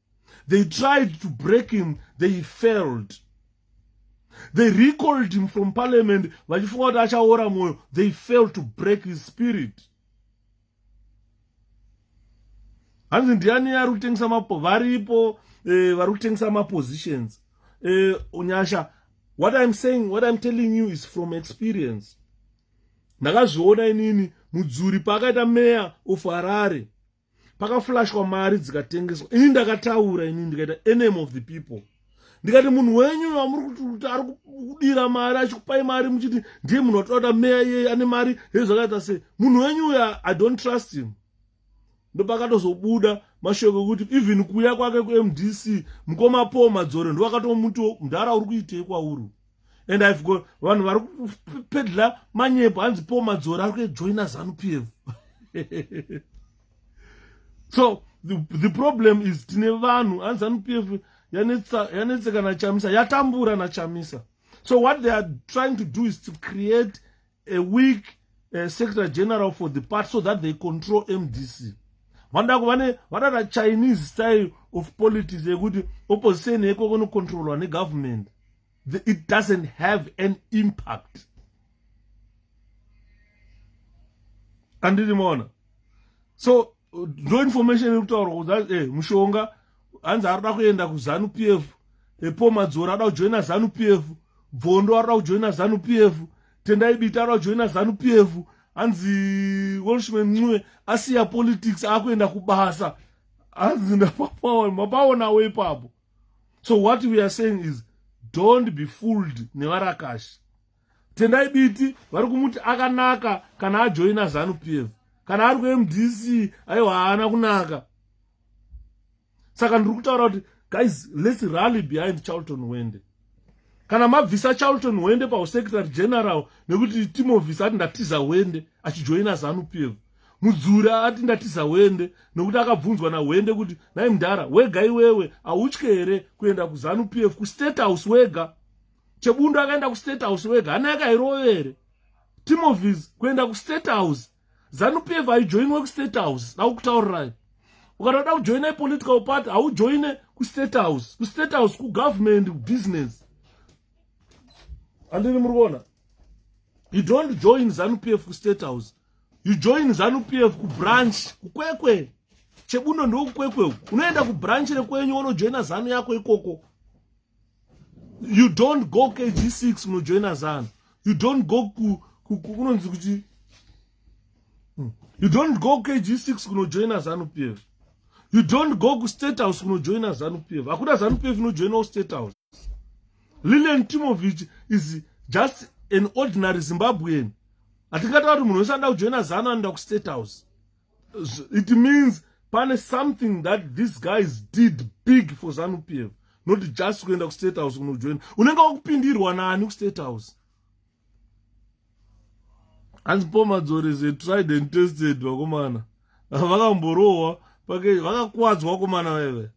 they tried to break him they failed they recalled him from parliament vachifunga kuti achaora mwoyo they failed to break his spirit hanzi ndiani ari kutengesa mapo varipo eh, vari kutengesa mapositions eh, unyasha what iam saying what iam telling you is from experience ndakazviona inini mudzuri paakaita meya of harare pakaflashwa mari dzikatengeswa ini ndakataura ini ndikaita enemy of the people ndikati munhu wenyu vamuri kuti kuti ari kudira mari achikupai mari muchiti ndiye munhu watoda meya iyeye ane mari hezvakaita sei munhu wenyu uya i don't trust him ndopakatozobuda mashoko ekuti even kuya kwake kumdc mukoma paul madzore ndovakatomuti mdhara uri kuitei kwauri and ive got vanhu vari kupedla manyepo hanzi po madzora ari kuejoina zanu p f so the, the problem is tine vanhu hanzi zanu p f yanetseka nachamisa yatambura nachamisa so what they are trying to do is to create a weak uh, secretary general for the party so that they control mdc vanoda kuvane vadada chinese style of politics yekuti opposition yeko kunocontrolwa negovernment it doesn't have an impact andiri maona so ndo information iri kutaurwa kuda eh, mushonga hanzi ari da kuenda kuzanu p f epo madzoro ada kujoina zanu p f bvondo ari da kujoina zanu p f tendai biti ari da kujoina zanu p f hanzi welshman ncue asiya politics akuenda kubasa hanzi ndapapaona mapaonawo ipapo so what we are saying is don't be fooled nevarakashi tendai biti vari kumuti akanaka kana ajoina zanu p f kana ari kumdc aiwa haana kunaka saka ndiri kutaura kuti guys lets rally behind charlton wende kana mabvisa charlton wende pausecretary general nekuti timovis ati ndatiza wende achijoina zanu p f mudzura ati ndatiza wende nokuti akabvunzwa nawende kuti nai mdhara wega iwewe autye here kuenda kuzanu p f kustate house wega chebundu akaenda kustate house wega hana yake hairovere timovis kuenda kustate house zanupf haijoinwe kustate house daukutaurirai ukatoda kujoina ipolitical party haujoine kustate house kustate house kugovernment business andini muri kuona you don't join zanu p f kustate house you join zanu p f kubranch kukwekwe chebuno ndokukwekwe unoenda kubranch rekwenyu wonojoina zanu yako ikoko you don't go kg6 unojoina zanu you don't go kunonzi ku, ku, kuti hmm. you don't go kg6 kunojoina zanu p f you don't go kustate house kunojoina zanu p f hakuna zanu p f inojoinawo state house lilian timovich is just an ordinary zimbabwean hatingataura kuti munhu wese anoda kujoina zanu anoda kustate house it means pane something that these guys did big for zanu p f not just kuenda kustate house kunojoina unenge wakupindirwa nani kustate house hanzi pomadzorese tried and tested vakomana vakamborohwa pake vakakuwadzwa vakomana veve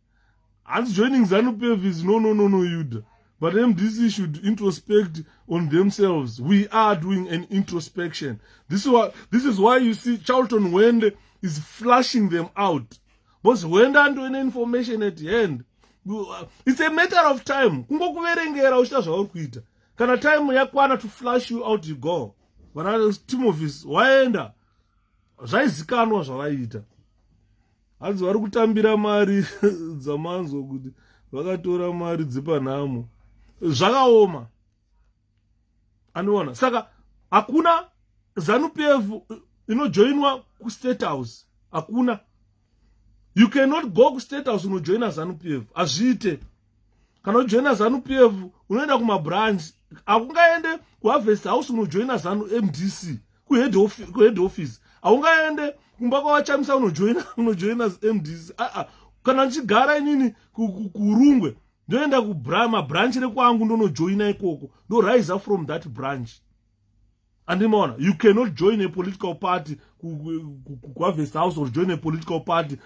hanzi joining zanupf is no no no no yuda but mdc should introspect on themselves we are doing an introspection this is why, this is why you see charlton wende is flushing them out because wende andoine information at hand it's a matter of time kungokuverengera uchita zvauri kuita kana time yakwana to flush you out you go vana timovis waenda zvaizikanwa zvavaiita hanzi vari kutambira mari dzamanzwa kuti vakatora mari dzepanhamo zvakaoma anoona saka hakuna zanupf inojoinwa kustate house hakuna you cannot go kustate house unojoina zanupf hazviite kana uchijoina zanu p f unoenda kumabranch hakungaende kuharvest house unojoina zanu mdc kuhead office haungaende kumba kwavachamisa unojoina unojoina mdc aa kana ndichigara inini kurungwe ndoenda mabranch rekwangu ndonojoina ikoko ndoriser from that branch andimaona you cannot join a political party kuharvest house or join a political party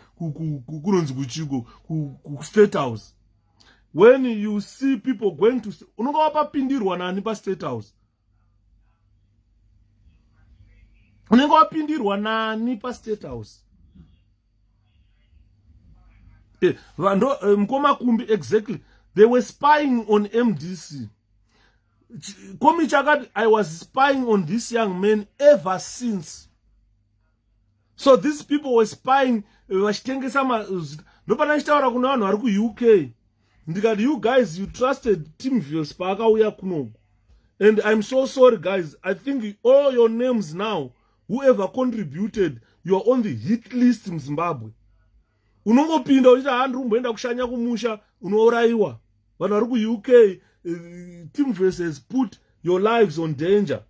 kunonzi kuchiko kustate house when you see people going to unonga wapapindirwa nani pastate house unenge wapindirwa nani pastate house eh, vando eh, mukoma kumbi exactly they were spying on mdc komichi akati i was spying on this young man ever since so these people were spying vachitengesa mazita ndopana ndichitaura kuna vanhu vari kuuk ndikati you guys you trusted tim vios paakauya kunoku and i'm so sorry guys i think all your names now whoever contributed youare on the hit list muzimbabwe unongopinda uchiti haa ndiri kumboenda kushanya kumusha unourayiwa vanhu vari kuuk eh, team verses put your lives on danger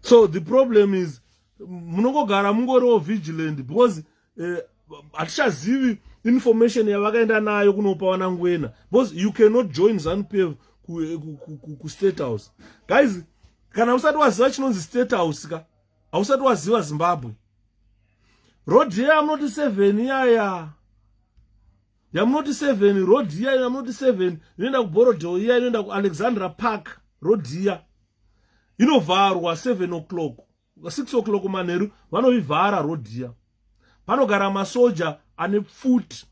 so the problem is munongogara mungoriwo vigilant because eh, hatichazivi uh, information yavakaenda nayo kunopa vanangwena because you cannot join zanupf kustate house guys kana usati waziva chinonzi state house ka hausati waziva zimbabwe road iya yamunoti seven iyaya yamunoti seven road iya yamunoti seven inoenda kuborodeo iya inoenda kualexandra park road iya inovharwa seven o'clock six o'clock manheru vanoivhara road iya panogara masoja ane pfuti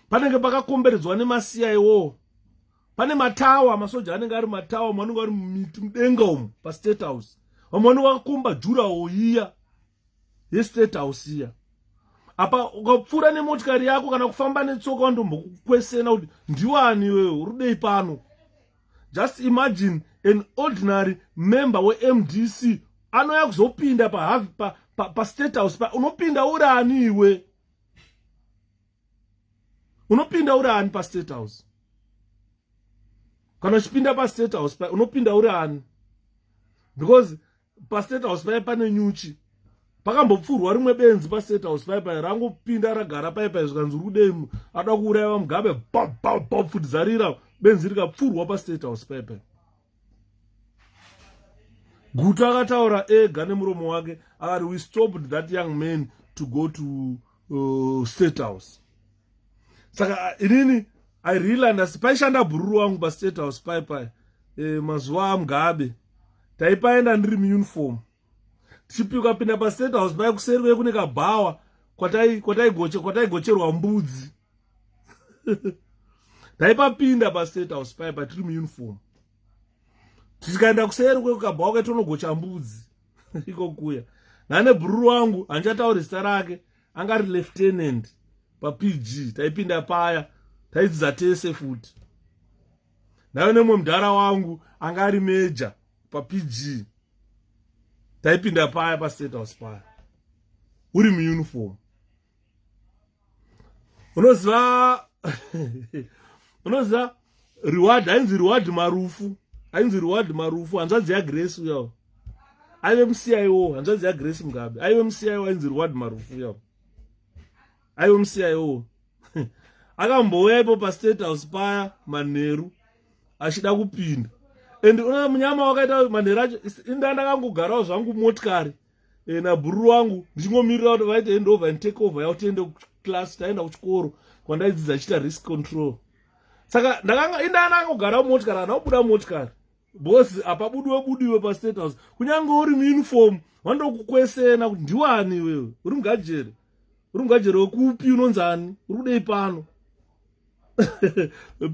panenge pakakomberedzwa nemasiya iwowo pane matawa masoja anenge ari matawa mamwe anenge ari mumiti mudenga umu pastate house vamwe vanenge vakakomba jurawo iya yestate house iya apa ukapfuura nemotikari yako kana kufamba netsoka vandombokukwesena kuti ndiwani iwewe uri dei pano just imagine an ordinary member wemdc anouya kuzopinda pastate pa, pa, pa house pa, unopinda urani iwe unopinda uri ani pastate house kana uchipinda pastate house pa unopinda uri ani because pastate house paye pane nyuchi pakambopfurwa rimwe benzi pastate house paye paye rangopinda ragara paye paye zvikanzi uri kudei ada kuuraiwa mugabe bapfudizarira benzi rikapfurwa pastate house paye paye gutu akataura ega nemuromo wake akati we stopped that young man to go to uh, state house saka uh, inini i realand asi paishanda bhururu wangu pastate house pai pai e, mazuva amugabe taipaenda ndiri muuniform tichipika pinda pastate house pai kuseri vekune kabhawa kwataigocherwa mbudzi taipapinda pastate house paye patiri muuniform tikaenda kuseri kwekukabhawa ketonogocha mbudzi iko kuya nane bhururu wangu handichatauri zita rake anga ari lieutenant papg taipinda paya taidzidza tese futi ndaive nemwe mudhara wangu anga ari meja papg taipinda paya pastate house paya uri muuniform unoziva unoziva reward hainzi reward marufu hainzi reward marufu hanzvadzi yagrace uyawo aive muciwo hanzvadzi yagrace mugabe aive muciwo ainzi reward marufu uyawo aive muciwo akambouya ipo pastate house paya manheru achida kupinda and una munyama wakaita manheru acho indaa ndakangogarawo zvangu motikari e, nabhururu wangu ndichingomirira kuti vaite hand over and take over yavo tiende kuclass taenda kuchikoro kwandaidzidza chiita risk control saka ndakanga indana angogara mumotikari kana kubuda mumotikari bhosi apabudiwe budiwe pastate house kunyange uri muuniform vandokukwesena kuti ndiwani iwewe uri mugajere uri mugajere wekupi unonzani uri kudei pano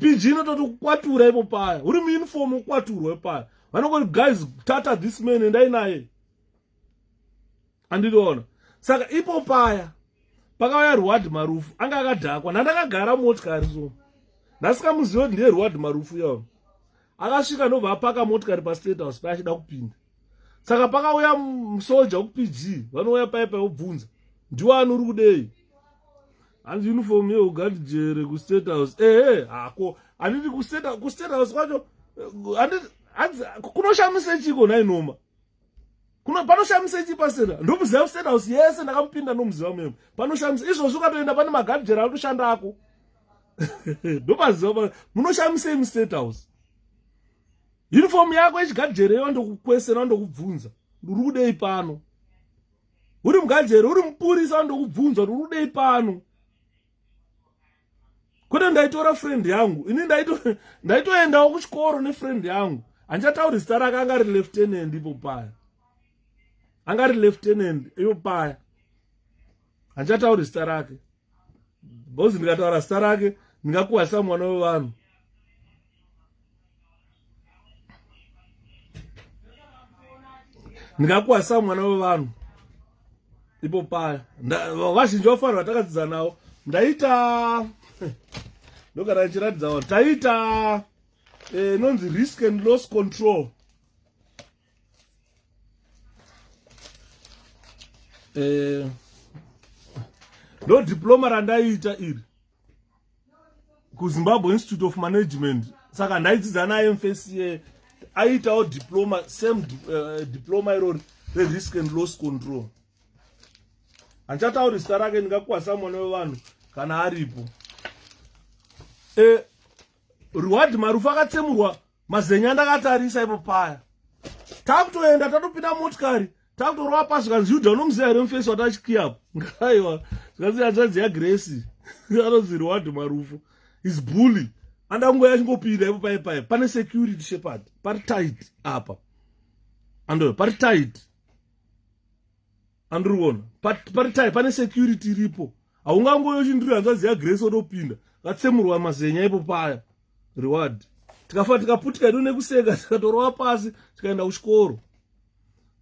pg inototi kukwatura ipo paya uri muuniform ukwaturwe paya vanongoti guys tata this man endai naye andiriona saka ipo paya pakauya reward marufu anga akadhakwa nandakagara motikari so ndasikamuziva kuti ndiye reward marufu yavo akasvika ndobva apaka motikari pastate house paye achida kupinda saka pakauya musoja wekupg vanouya paye paye obvunza ndiwo anori kudei hanzi uniform yeugard jere kustate house ehe hako handiti kustate house kwacho eh, handiti kunoshamisa chiko nainoma kuno panoshamisa ichi pasera ndomuziva kustate house yese ndakamupinda ndomuziva memo panoshamisa izvozvo ukatoenda pane magadhijera anotoshanda ako ndopaziva munoshamisei mustate house uniform yako yechigadhijera iyo ndokukwesera ndokubvunza ndiri kudei pano uri mugadhijera uri mupurisa ndokubvunza ndiri kudei pano kwete ndaitora friend yangu ini ndaitoendawo kuchikoro nefriend yangu handichatauri zita rake anga ri lieutenant ipo paya anga ri lieutenant ipo paya handichatauri zita rake bcause ndikataura zita rake ndingakuhwasa mwana wevanhu ndingakwazisa mwana wevanhu ipo paya vazhinji vafanira vatakadzidza navo ndaita ndogara ndichiratidza vanhu taita eh, inonzi risk and loss control eh, ndo diploma randaiita iri kuzimbabwe institute of management saka ndaidzidza naye mfsa aiitawo diploma same uh, diploma irori rerisk and loss control handichatauri zita rake ndingakwasa mwana wevanhu kana aripo e, reward marufu akatsemurwa mazenya ndakatarisa ipo paya takutoenda tatopinda motikari takutorova pasi zvikanzi yuda unomuziva here mufesi watachikiya apo ngaiwa zvikanzi hanzvanzi yagresi anonzi reward marufu is bully anda kungoya achingopinda ipo paye paye pane security shepard pari tight apa ando pari tight andiriona pari tight pane security iripo haungangoyo chindiri hanzvadzi yagrace otopinda vatsemurwa mazenya ipo paya reward tikafa tikaputika ido nekuseka tikatorova pasi tikaenda kuchikoro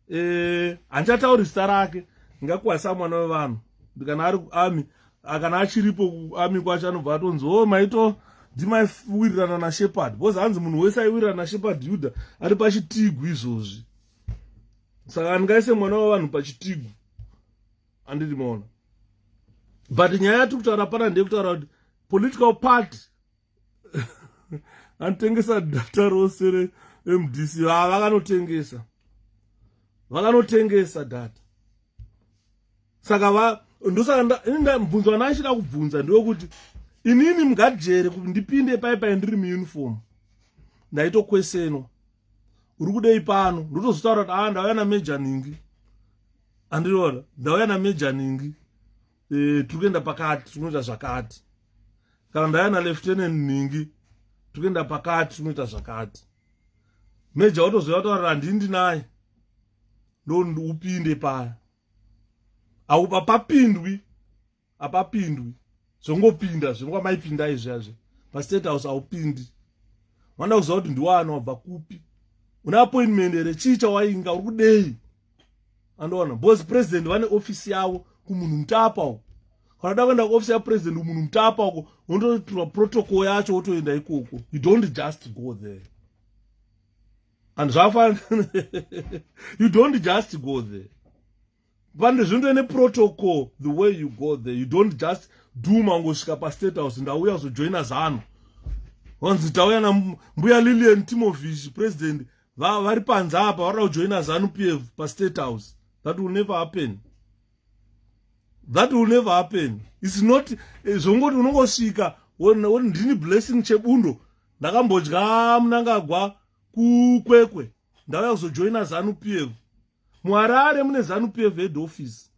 eh, handichatauri zita rake ngakuwasa mwana wevanhu ndikana ari kuami akana achiripo kuami kwacho anobva atonzi o oh, maito ndimaiwirirana nashepard bcause hanzi munhu wese aiwirirana nashepard yuda ari pachitigu izvozvi saka ndingaise mwana wevanhu pachitigu anditi maona but nyaya yatiri kutaura pana ndeyekutaura kuti political party anotengesa data rose remdc haa vakanotengesa vakanotengesa data saka va ndosaka mubvunzo vana achida kubvunza ndewekuti inini mugajere kuti ndipinde pai pai ndiri muuniform ndaitokwesenwa uri kudei pano ndotozotaura kuti aa ndauya nameja ningi andiriona ndauya nameja ningi e, eh, tiri kuenda pakati tiri kunoita zvakati kana ndauya naleftenen ningi tiri kuenda pakati tiri kunoita zvakati meja watozoya kutaurira handii ndinaye ndondi upinde paya aupa papindwi apapindwi zvongopinda zvengwa maipinda izvazve pastate house aupindi vanoda kuziva kuti ndiwani wabva kupi une appointment here chii chawainga uri kudei andoona bcause president vane ofisi yavo kumunhu mutapa uko kanoda kuenda kuofisi yapresident kumunhu mutapa uko wondotura protocol yacho wotoenda ikoko you don't just go there and zvafanira you don't just go there pane zvinhu ine protocol the way you go there you don't just do mangosvika pastate house ndauya kuzojoina zano wanzi tauya nambuya lilian timovish president vari va, panze apa varida kujoina zanu p f pastate house that will never happen that will never happen its not eh, zvongoti unongosvika ndini blessing chebundo ndakambodya munangagwa kukwekwe ndauya kuzojoina zanu p f muharare mune zanupf head office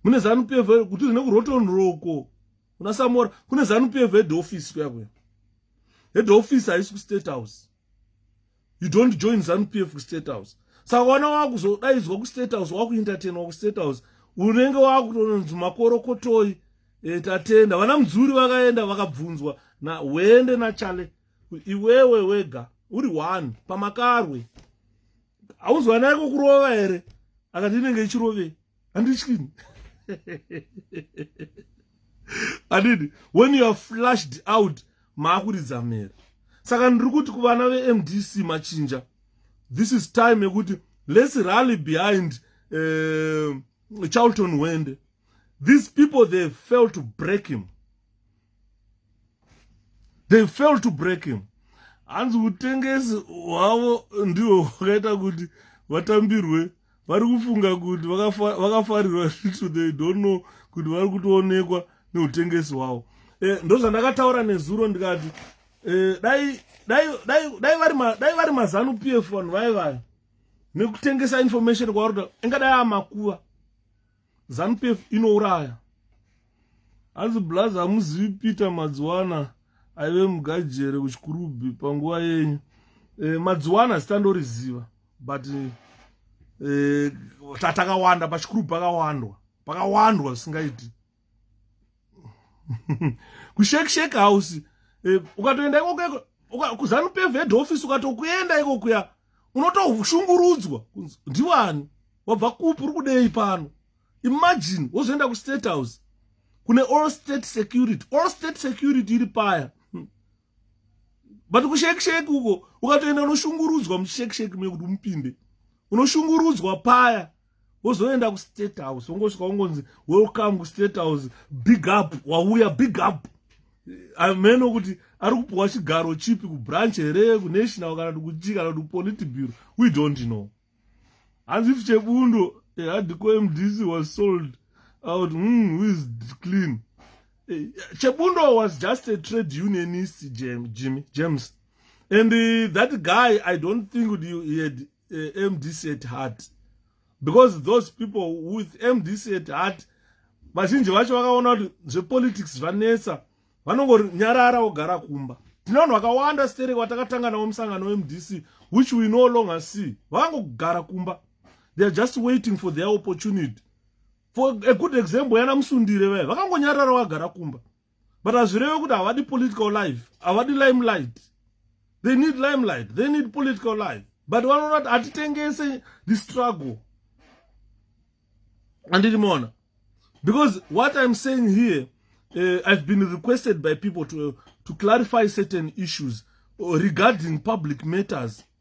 mune zanupf kuti zvine kuroton roko kuna samora kune zanupf head office kuya kuya head office haisi kustate house you don't join zanupf kustate house saka wana wakuzodaidzwa kustate house wakuentertainwa kustate house unenge wakutononzi makorokotoi e, tatenda vana mudzuri vakaenda vakabvunzwa na wende nachale iwewe wega uri one pamakarwe hauzwanai kukurova here akati inenge ichirovei handityini adidi when you are flashed out maakuridza mhere saka ndiri kuti kuvana vemdc machinja this is time yekuti let's rally behind uh, charlton wende these people they fail to break him they fail to break him hanzi utengesi hwavo ndiho hwakaita kuti vatambirwe vari kufunga kuti vakafarirwa zvitu they don't know kuti vari kutoonekwa neutengesi hwavo e, ndozvandakataura nezuro ndikati e, dai vari mazanu p f vanhu vaye vaya nekutengesa information kwavari kuti ingadai amakuva zanupf inouraya hanzi blaz hamuzivi peter madziwana aive mugajere kuchikurubhi panguva yenyu e, eh, madziwana zita ndoriziva but e, tatakawanda pachikurubhi pakawandwa pakawandwa zvisingaiti kushekisheke house e, ukatoenda ikoko kuzanupf head office ukatokuenda ikokuya unotoshungurudzwa kunzi ndiwani wabva kupi uri kudei pano imagine wozoenda kustate house kune all state security all state security iri paya hmm. but kushekisheki uko ukatoenda unoshungurudzwa muchishekisheki mekuti mupinde unoshungurudzwa paya wozoenda kustate house wongosvika wongonzi welcome kustate house big up wauya big up ameno eh, kuti ari kupiwa chigaro chipi kubranch here kunational kana kuti kuchi kana kuti kupolitiburo we don't know hanzi if chebundo eh, hadiko mdc was sold out mm, who is clean eh, chebundo was just a trade unionist jimmy james and uh, that guy i don't think he had uh, mdc at heart because those people with mdc at heart vazhinji vacho vakaona kuti zvepolitics zvanetsa vanongori nyarara wogara kumba tine vanhu vakawanda sterek vatakatanga navo musangano wemdc which we no longer see vakangogara kumba they are just waiting for their opportunity for a good example yana musundire vaya vakangonyarara vagara kumba but hazvireve kuti havadi political life havadi limelight they need limelight they need political life but vanoona kuti hatitengese the struggle andiri mona because what i'm saying here uh, i've been requested by people to, to clarify certain issues regarding public matters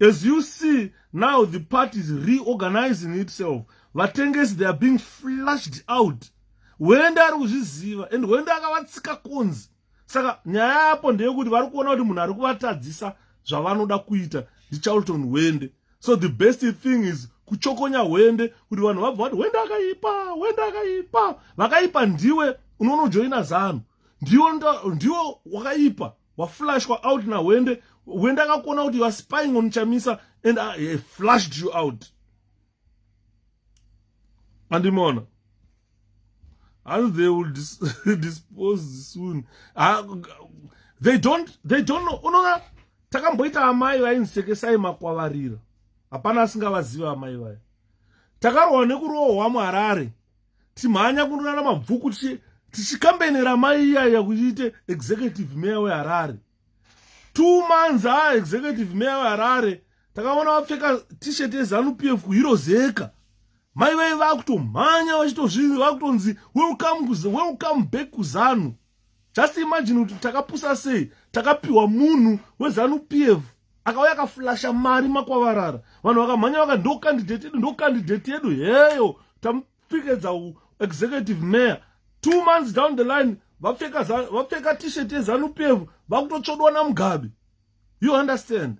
as you see now the party is reorganizing itself vatengesi they are being flushed out hwende ari kuzviziva and hwende akavatsika kunzi saka nyaya yapo ndeyekuti vari kuona kuti munhu ari kuvatadzisa zvavanoda kuita ndicharlton hwende so the best thing is kuchokonya hwende kuti vanhu vabva vati hwende akaipa hwende akaipa vakaipa ndiwe unonojoina zanu ndiwo ndiwo wakaipa waflashwa out nahwende hwende akakuona kuti youare spying on chamisa and uh, he flashed you out andimona and they will dis dispose soon uh, they don't they don't know unoona takamboita amai vainsekesai makwavarira hapana asingavaziva amai vaya takarohwa nekurohwa muharare timhanya kunonana mabvuku tichikambenera mai iyaya kuchiite executive mayor weharare two months a ah, executive mayor weharare takaona vapfeka tshirt yezanup f kuhirozeka mai vai vakutomhanya vachitozvii vakutonzi welcome, welcome back kuzanu just imagine kuti takapusa sei takapiwa munhu wezanu pf akauya akaflasha mari makwavarara vanhu vakamhanya vaka ndo candidate yedu ndo candidate yedu heyo tamupikedza executive mayor two months down the line vapfeka t-shirt yezanu pf vakutotsvodwa namugabe you understand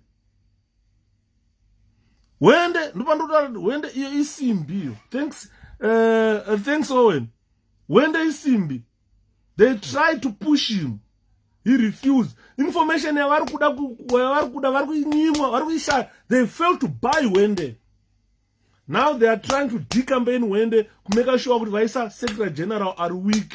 wende ndopandota wende iyo isimbi iyo thanks uh, thanks owen wende isimbi they try to push him he refused information yavari kuda yavari kuda vari kuinyimwa vari kuishaya they fail to buy hwende now they are trying to decampaign hwende kumeka shuwa kuti vaisa secretary general ari week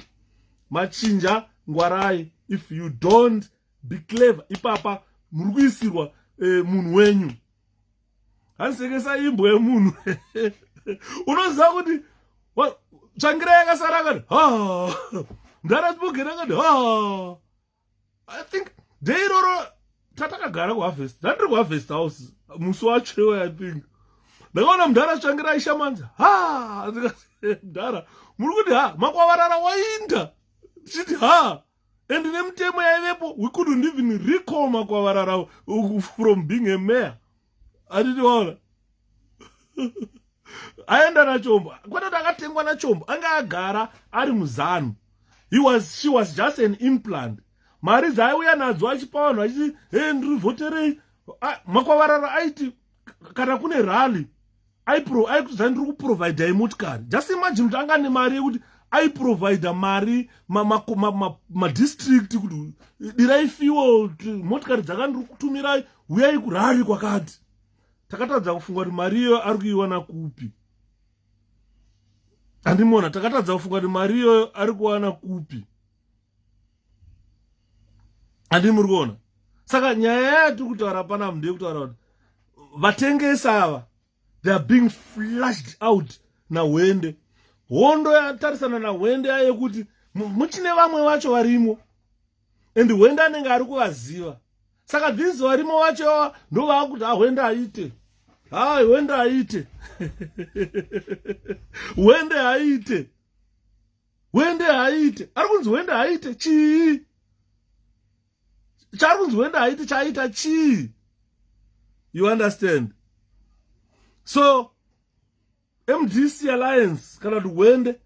machinja ngwarai if you don't be clever ipapa muri kuisirwa eh, munhu wenyu handisekesa imbwa yemunhu unoziva kuti tsvangira yakasara akati ha ndarasibogera akati ha i think de iroro tatakagara kuharvest ndandiri kuharvest house musi wacho i think ndakaona mudhara tsvangira aishamanzi ha mudhara muri kuti ha makwavarara wainda tichiti ha and nemutemo yaivepo we couldn't even recall makwavarara uh, from being a mayor atitiwaona aenda nachombo kwete kuti akatengwa nachombo anga agara ari muzanu he was she was just an implant mari dzaiuya nadzo achipa vanhu achiti he ndiri vhoterei makwavarara aiti kana kune rally aikutodzai ndiri kuprovidai motikari just imagine kuti anga nemari yekuti aiprovidha mari madistrict ma, ma, ma, ma kuti dirai fuel motikari dzakandiri kutumirai huyai kurari kwakati takatadza kufunga kuti mari iyoyo ari kuiwana kupi andimona takatadza kufunga kuti mari iyoyo ari kuwana kupi andii muri kuona saka nyaya yatiri kutaura panapo ndeye kutaura kuti vatengesi ava they are being flushed out nahwende hondo yatarisana nahwende yaye kuti muchine vamwe vacho varimo and hwende anenge ari kuvaziva saka these varimo vacho yava ndovaakuti hahwende aite hai hwende aite hwende aite hwende haaite ari kunzi hwende haaite chii chaari kunzi hwende haaite chaaita chii you understand so mdc alliance kana kuti hwende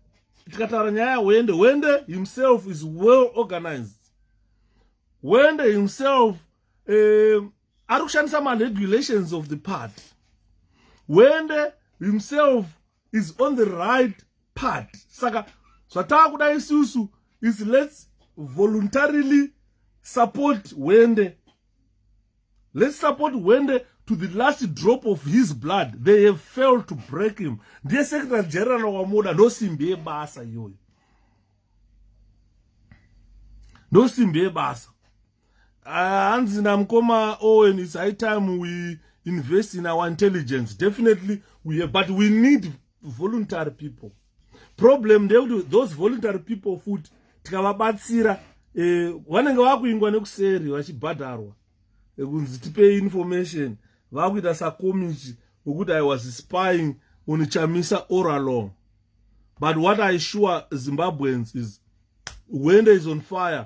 tikataura nyaya yahwende hwende himself is well organized hwende himself um, ari kushandisa maregulations of the party hwende himself is on the right part saka zvatava kuda isusu is let's voluntarily support hwende let's support hwende to the last drop of his blood they have failed to break him ndiye secretary general wamoda ndosimbi yebasa iyoyo ndosimbi yebasa hanzi namukoma owen its high time we invest in our intelligence definitely we have, but we need voluntary people problem ndeyekuti those voluntary people futi tikavabatsira eh, vanenge eh, vakuingwa nekuseri vachibhadharwa eh, kunzi tipei information vakuita sakomichi wekuti i was spying on chamisa or along but what i sure zimbabweans is wende is on fire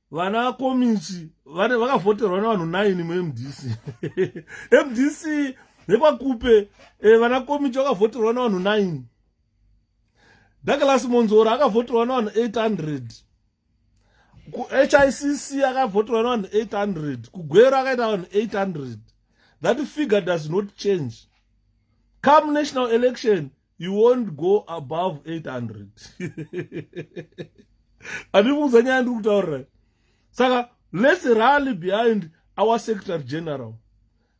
vana komichi vakavhoterwa nevanhu 9 mumdc mdc yekwakupe eh, vana komichi vakavhoterwa nevanhu 9 douglas monzora akavhoterwa nevanhu 800 kuhicc akavhoterwa nevanhu 800 kugwero akaita vanhu 800 that figure does not change come national election you won't go above 800 andiri kuudza nyaya ndiri kutaurira saka let's rally behind our secretary general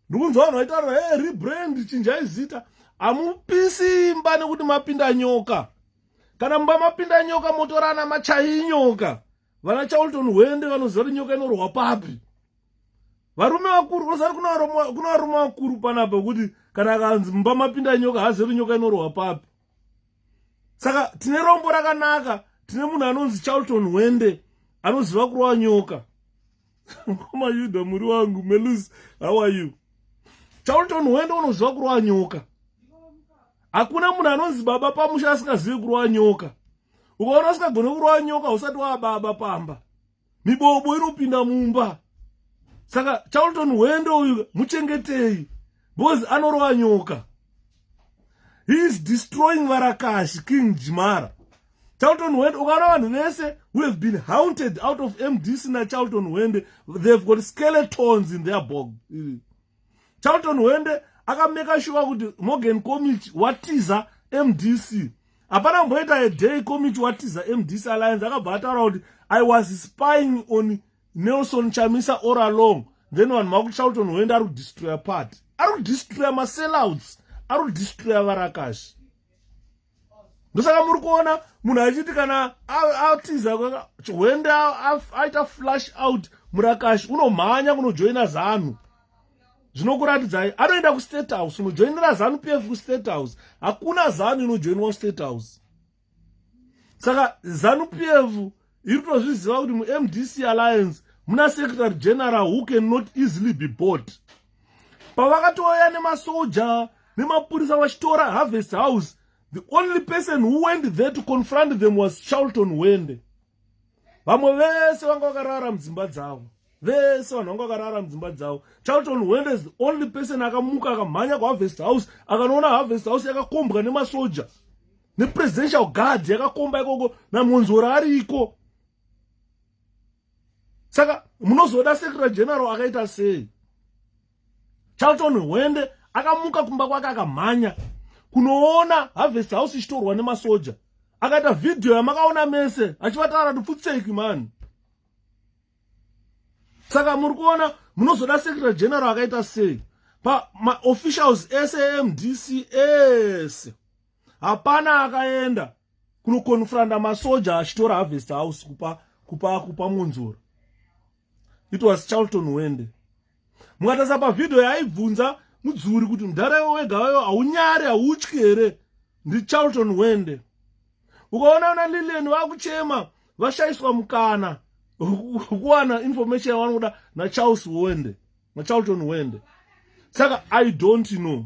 ndiri kunzwa vanhu vaitaura hey, rebrand chinjai zita hamupisi imba nekuti mapinda nyoka kana mumba mapinda nyoka motorana machai nyoka vana charlton hwende vanoziva kuti nyoka inorwa papi varume vakuru unozati kuna varume vakuru panapa kuti kana akanzi mumba mapinda nyoka haazive kuti nyoka inorwa papi saka tine rombo rakanaka tine munhu anonzi charlton hwende anoziva kurwa nyoka mkoma yuda muri wangu melus how are you charlton hwende unoziva kurwa nyoka hakuna munhu anonzi baba pamusha asingazivi kurwa nyoka ukaona usikagone kurova nyoka usati wababa pamba mibobo inopinda mumba saka charlton hwende uyu muchengetei because anorova nyoka he is destroying varakashi king jimara charlton hwende ukaona vanhu vese who have been haunted out of mdc nacharlton hwende they have got skeletons in their bog charlton hwende akameka shuwa kuti morgan comich watiza mdc hapana kumboita aday comich watiza mdc alliance akabva ataura kuti i was spying on nelson chamisa or along then vanhu vakuti charlton hwende ari kudistroya party ari kudistroya masellouts ari kudistroya varakashi ndosaka muri kuona munhu achiti kana atiza hwende aita flash out murakashi unomhanya kunojoina zanu zvinokuratidzai anoenda kustate house unojoinira zanu p f kustate house hakuna zanu inojoinwa kustate house saka zanu p f iri tozviziva kuti mumdc alliance muna secretary general who can not easily be bought pavakatouya nemasoja nemapurisa vachitora harvest house the only person who went there to confront them was charlton wende vamwe vese vanga vakarara mudzimba dzavo vese vanhu vanga vakarara mudzimba dzavo charlton wenders the only person akamuka akamhanya kuharvest house akanoona harvest house yakakombwa nemasoja nepresidential guard yakakomba ikoko namonzora ariko saka munozoda secretary general akaita sei charlton hwende akamuka kumba kwake akamhanya kunoona harvest house ichitorwa nemasoja akaita vhidhiyo yamakaona mese achivataura kuti pfutseki mani saka muri kuona munozoda secretary general akaita sei pamaofficials ese emdc ese hapana akaenda kunokonfranda masoja achitora harvest house kupa kupa kupa munzoro it was charlton wende mukatarisa pavhidhiyo yaaibvunza mudzuri kuti mudhara iwo wega wayo haunyari hautyi here ndicharlton wende ukaona una lilian vakuchema vashaiswa mukana kuwana information yavanoda nacharles wende nacharlton wende saka i don't know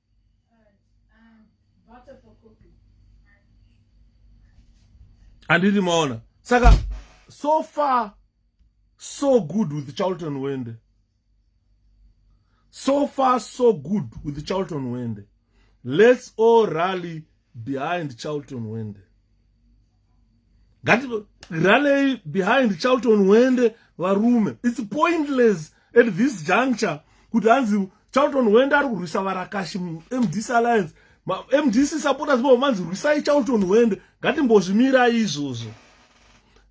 handiti maona saka so far so good with charlton wende so far so good with charlton wende let's all rally behind charlton wende ngati ranei behind charlton wende varume its pointless at this juncture kuti hanzi charlton wende ari kurwisa varakashi mdc alliance mdc supporters vavo vanzi rwisai charlton wende ngatimbozvimirai izvozvo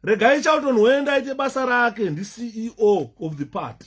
regai charlton wende aite basa rake ndiceo of the party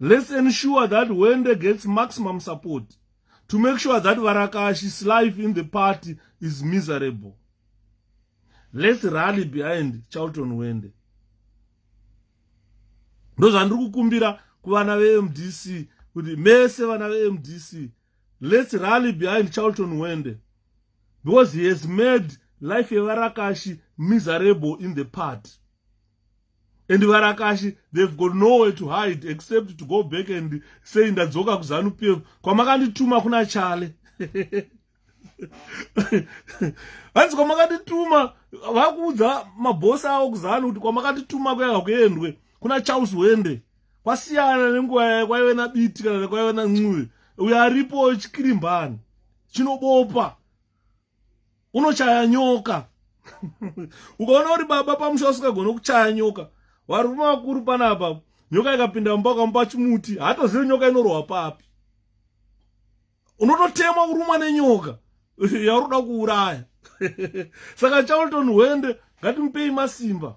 let's ensure that hwende gets maximum support to make sure that varakashi's life in the party is miserable let's rally behind charlton hwende ndozvandiri kukumbira kuvana vemdc kuti mese vana vemdc let's rally behind charlton hwende because he has made life yevarakashi miserable in the party and varakashi they've got nowhere to hide except to go back and say ndadzoka kuzanu pf kwamakandituma kuna chale hanzi kwamakandituma vakuudza mabhosi avo kuzanu kuti kwamakandituma kuyaka kuendwe kuna charles wende kwasiyana nenguva yaye kwaive nabiti kana nekwaive nancuve uyo aripo chikirimbani chinobopa unochaya nyoka ukaona uri baba pamusha usingagone kuchaya nyoka varume vakuru panapa nyoka ikapinda mumba ukamupa chimuti hatozivi nyoka inorohwa papi unototemwa kurumwa nenyoka yauri kuda kuuraya saka charlton hwende ngatimupei masimba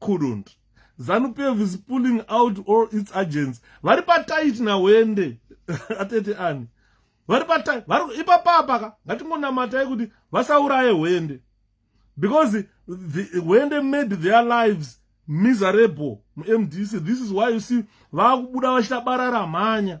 couldn't zanu pf is pulling out all its agents vari patit nahwende atete ani vari patit ipapapa ka ngatingonamatai kuti vasauraye hwende because the, hwende made their lives miserable mumdc this is why you see vakubuda vachita barara mhanya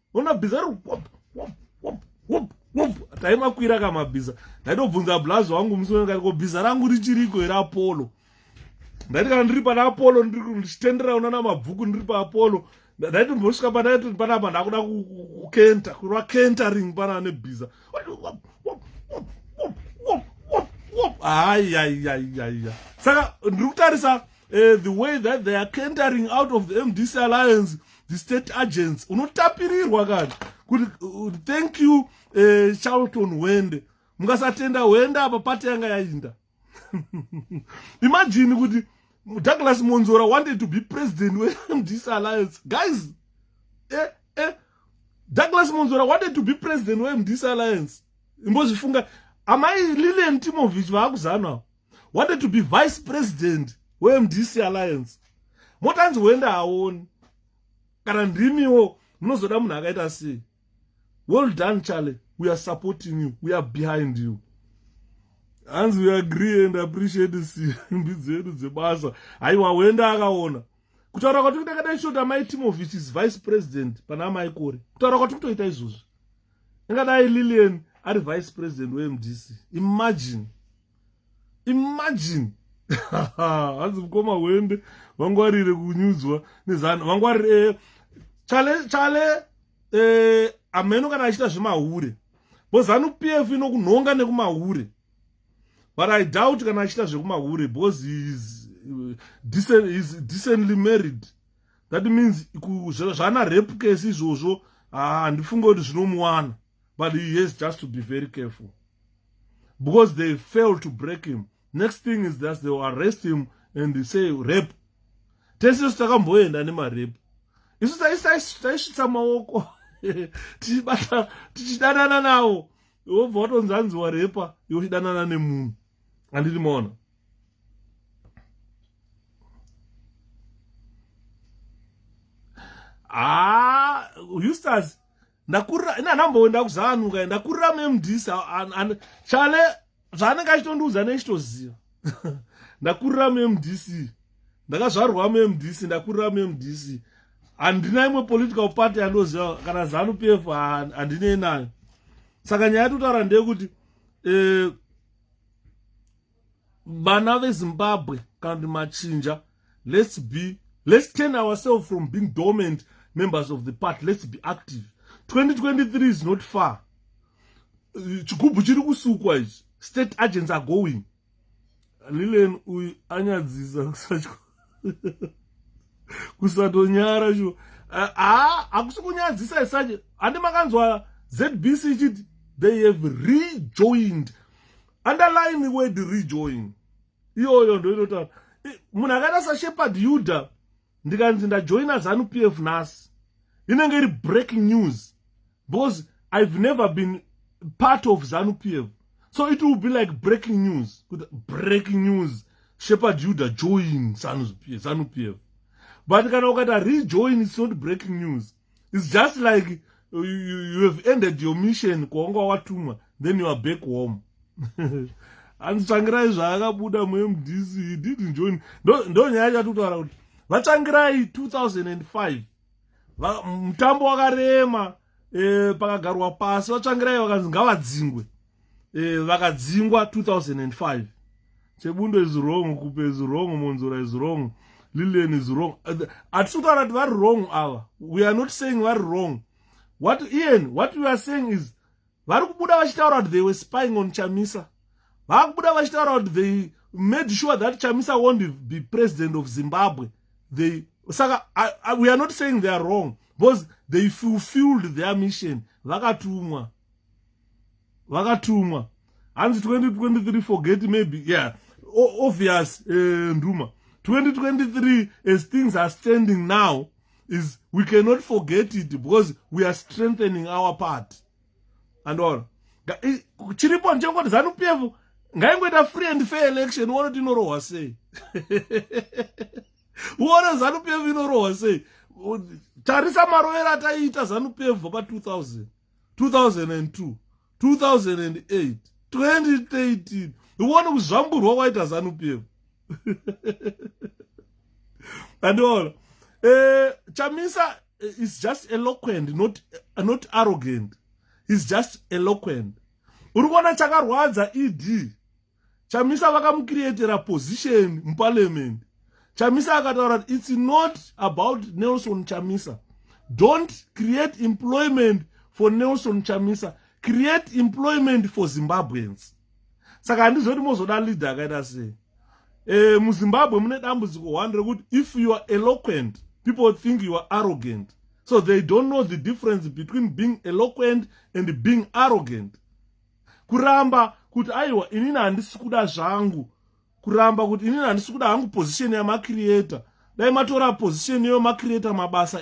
ona bhiza ri wop wop wop wop wop taimakwira ka mabhiza ndaitobvunza blazi wangu musi wekati ko bhiza rangu richiriko here apolo ndaiti kana ndiri pana apolo ndichitendera una na mabvuku ndiri pa apolo ndaiti mbosvika pandaiti panapa ndakuda kukenta kurwa kentering pana nebhiza ayayayaya saka ndiri kutarisa uh, the way that they are kentering out of the mdc alliance the state agents unotapirirwa kana kuti uh, thank you uh, charlton hwende mukasatenda hwende apa pati yanga yainda imagine kuti douglas monzora wanted to be president wemdc alliance guys eh, eh, douglas monzora wanted to be president wemdc alliance imbozvifunga amai lilian timovich vaakuzanwa wanted to be vice president wemdc alliance motanzi huenda haoni kana ndimiwo munozoda munhu akaita sei well done charlie we are supporting you we are behind you hanzi we agree and appreciate simbi dzedu dzebasa haiwa huenda akaona kutaura kwati kutakadai shoti amai timovich is vice president pana amai kore kutaura kwati kutoita izvozvi ingadai lilian ari vice president wemdc imagine imagine hanzi mukoma hwembe vangwarire kunyudzwa nezano vangwarire eh, chale chale eh, ameno kana achiita zvemahure bo zanu p f inokunhonga nekumahure but i doubt kana achiita zvekumahure because heis eh, decently married that means zvaana rep case izvozvo ah, handifunge kuti zvinomuwana but he has just to be very careful because they fail to break him next thing is that they will arrest him and they say rape tese isu takamboenda nemarepe isu taisvitsa maoko tichibata tichidanana nawo wobva watonzi anzi warepa iwe uchidanana nemunhu andiri maona haa ah, hustas ndakurira ini handamboenda kuzanuka ndakurira memdis chale zvaanenge achitondiudza nechitoziva ndakurira memdc ndakazvarwa memdc ndakurira memdc handina imwe political party yandoziva kana zanu p f handinei nayo saka nyaya yatotaura ndeyekuti eh, vana vezimbabwe kana kuti machinja let's be let's turn ourselves from being dormant members of the party let's be active 2023 is not far chigubhu chiri kusukwa ichi state agents are going lilen uyu anyadzisa kusatyo kusatonyara shuwa haa hakusi kunyadzisa isache handi makanzwa zbc ichiti they have rejoined underline word rejoin iyoyo ndo inotaura munhu akaita sashepard yuda ndikanzi ndajoina zanu p f nhasi inenge iri breaking news because i've never been part of zanu p f so it will be like breaking news kuti breaking news shepard yuda join zanu p f but kana ukata rejoin its not breaking news its just like you, you, you have ended your mission kwawanga watumwa then you are back home anditsvangirai zvaakabuda mumdc he didn't join ndo nyaya yacho atitaura kuti vatsvangirai 2005 mutambo wakarema eh, pakagarwa pasi vatsvangirai vakanzi ngavadzingwe eh, vakadzingwa 2005 chebundo is wrong kupe is wrong monzora is wrong lilian is wrong hatisi kutaura kuti vari wrong ava we are not saying vari wrong what ian what we are saying is vari kubuda vachitaura kuti they were spying on chamisa vava kubuda vachitaura kuti they made sure that chamisa won't be president of zimbabwe they saka I, I, we are not saying they are wrong because they fulfilled their mission vakatumwa vakatumwa hanzi 2023 forget maybe yeah obvious uh, nduma 2023 as things are standing now is we cannot forget it because we are strengthening our party andoona chiripo ndichangoti zanu p f ngaingoita free and fair election uone kuti inorohwa sei uone zanu p f inorohwa sei tarisa marovero ataiita zanu p f pa 2000 2002 2008 2013 uone kuzvamburwa kwaita zanup yeko andiona uh, eh, chamisa eh, is just eloquent not, uh, not arrogant is just eloquent uri kuona chakarwadza ed chamisa vakamucreatera position muparliament chamisa akataura kuti its not about nelson chamisa don't create employment for nelson chamisa create employment for zimbabweans saka handizoti mozoda leader akaita sei e, muzimbabwe mune dambudziko one rekuti if you are eloquent people think you are arrogant so they don't know the difference between being eloquent and being arrogant kuramba kuti aiwa inini handisi kuda zvangu kuramba kuti inini handisi kuda hangu position yamacreator dai matora position yemacreator mabasa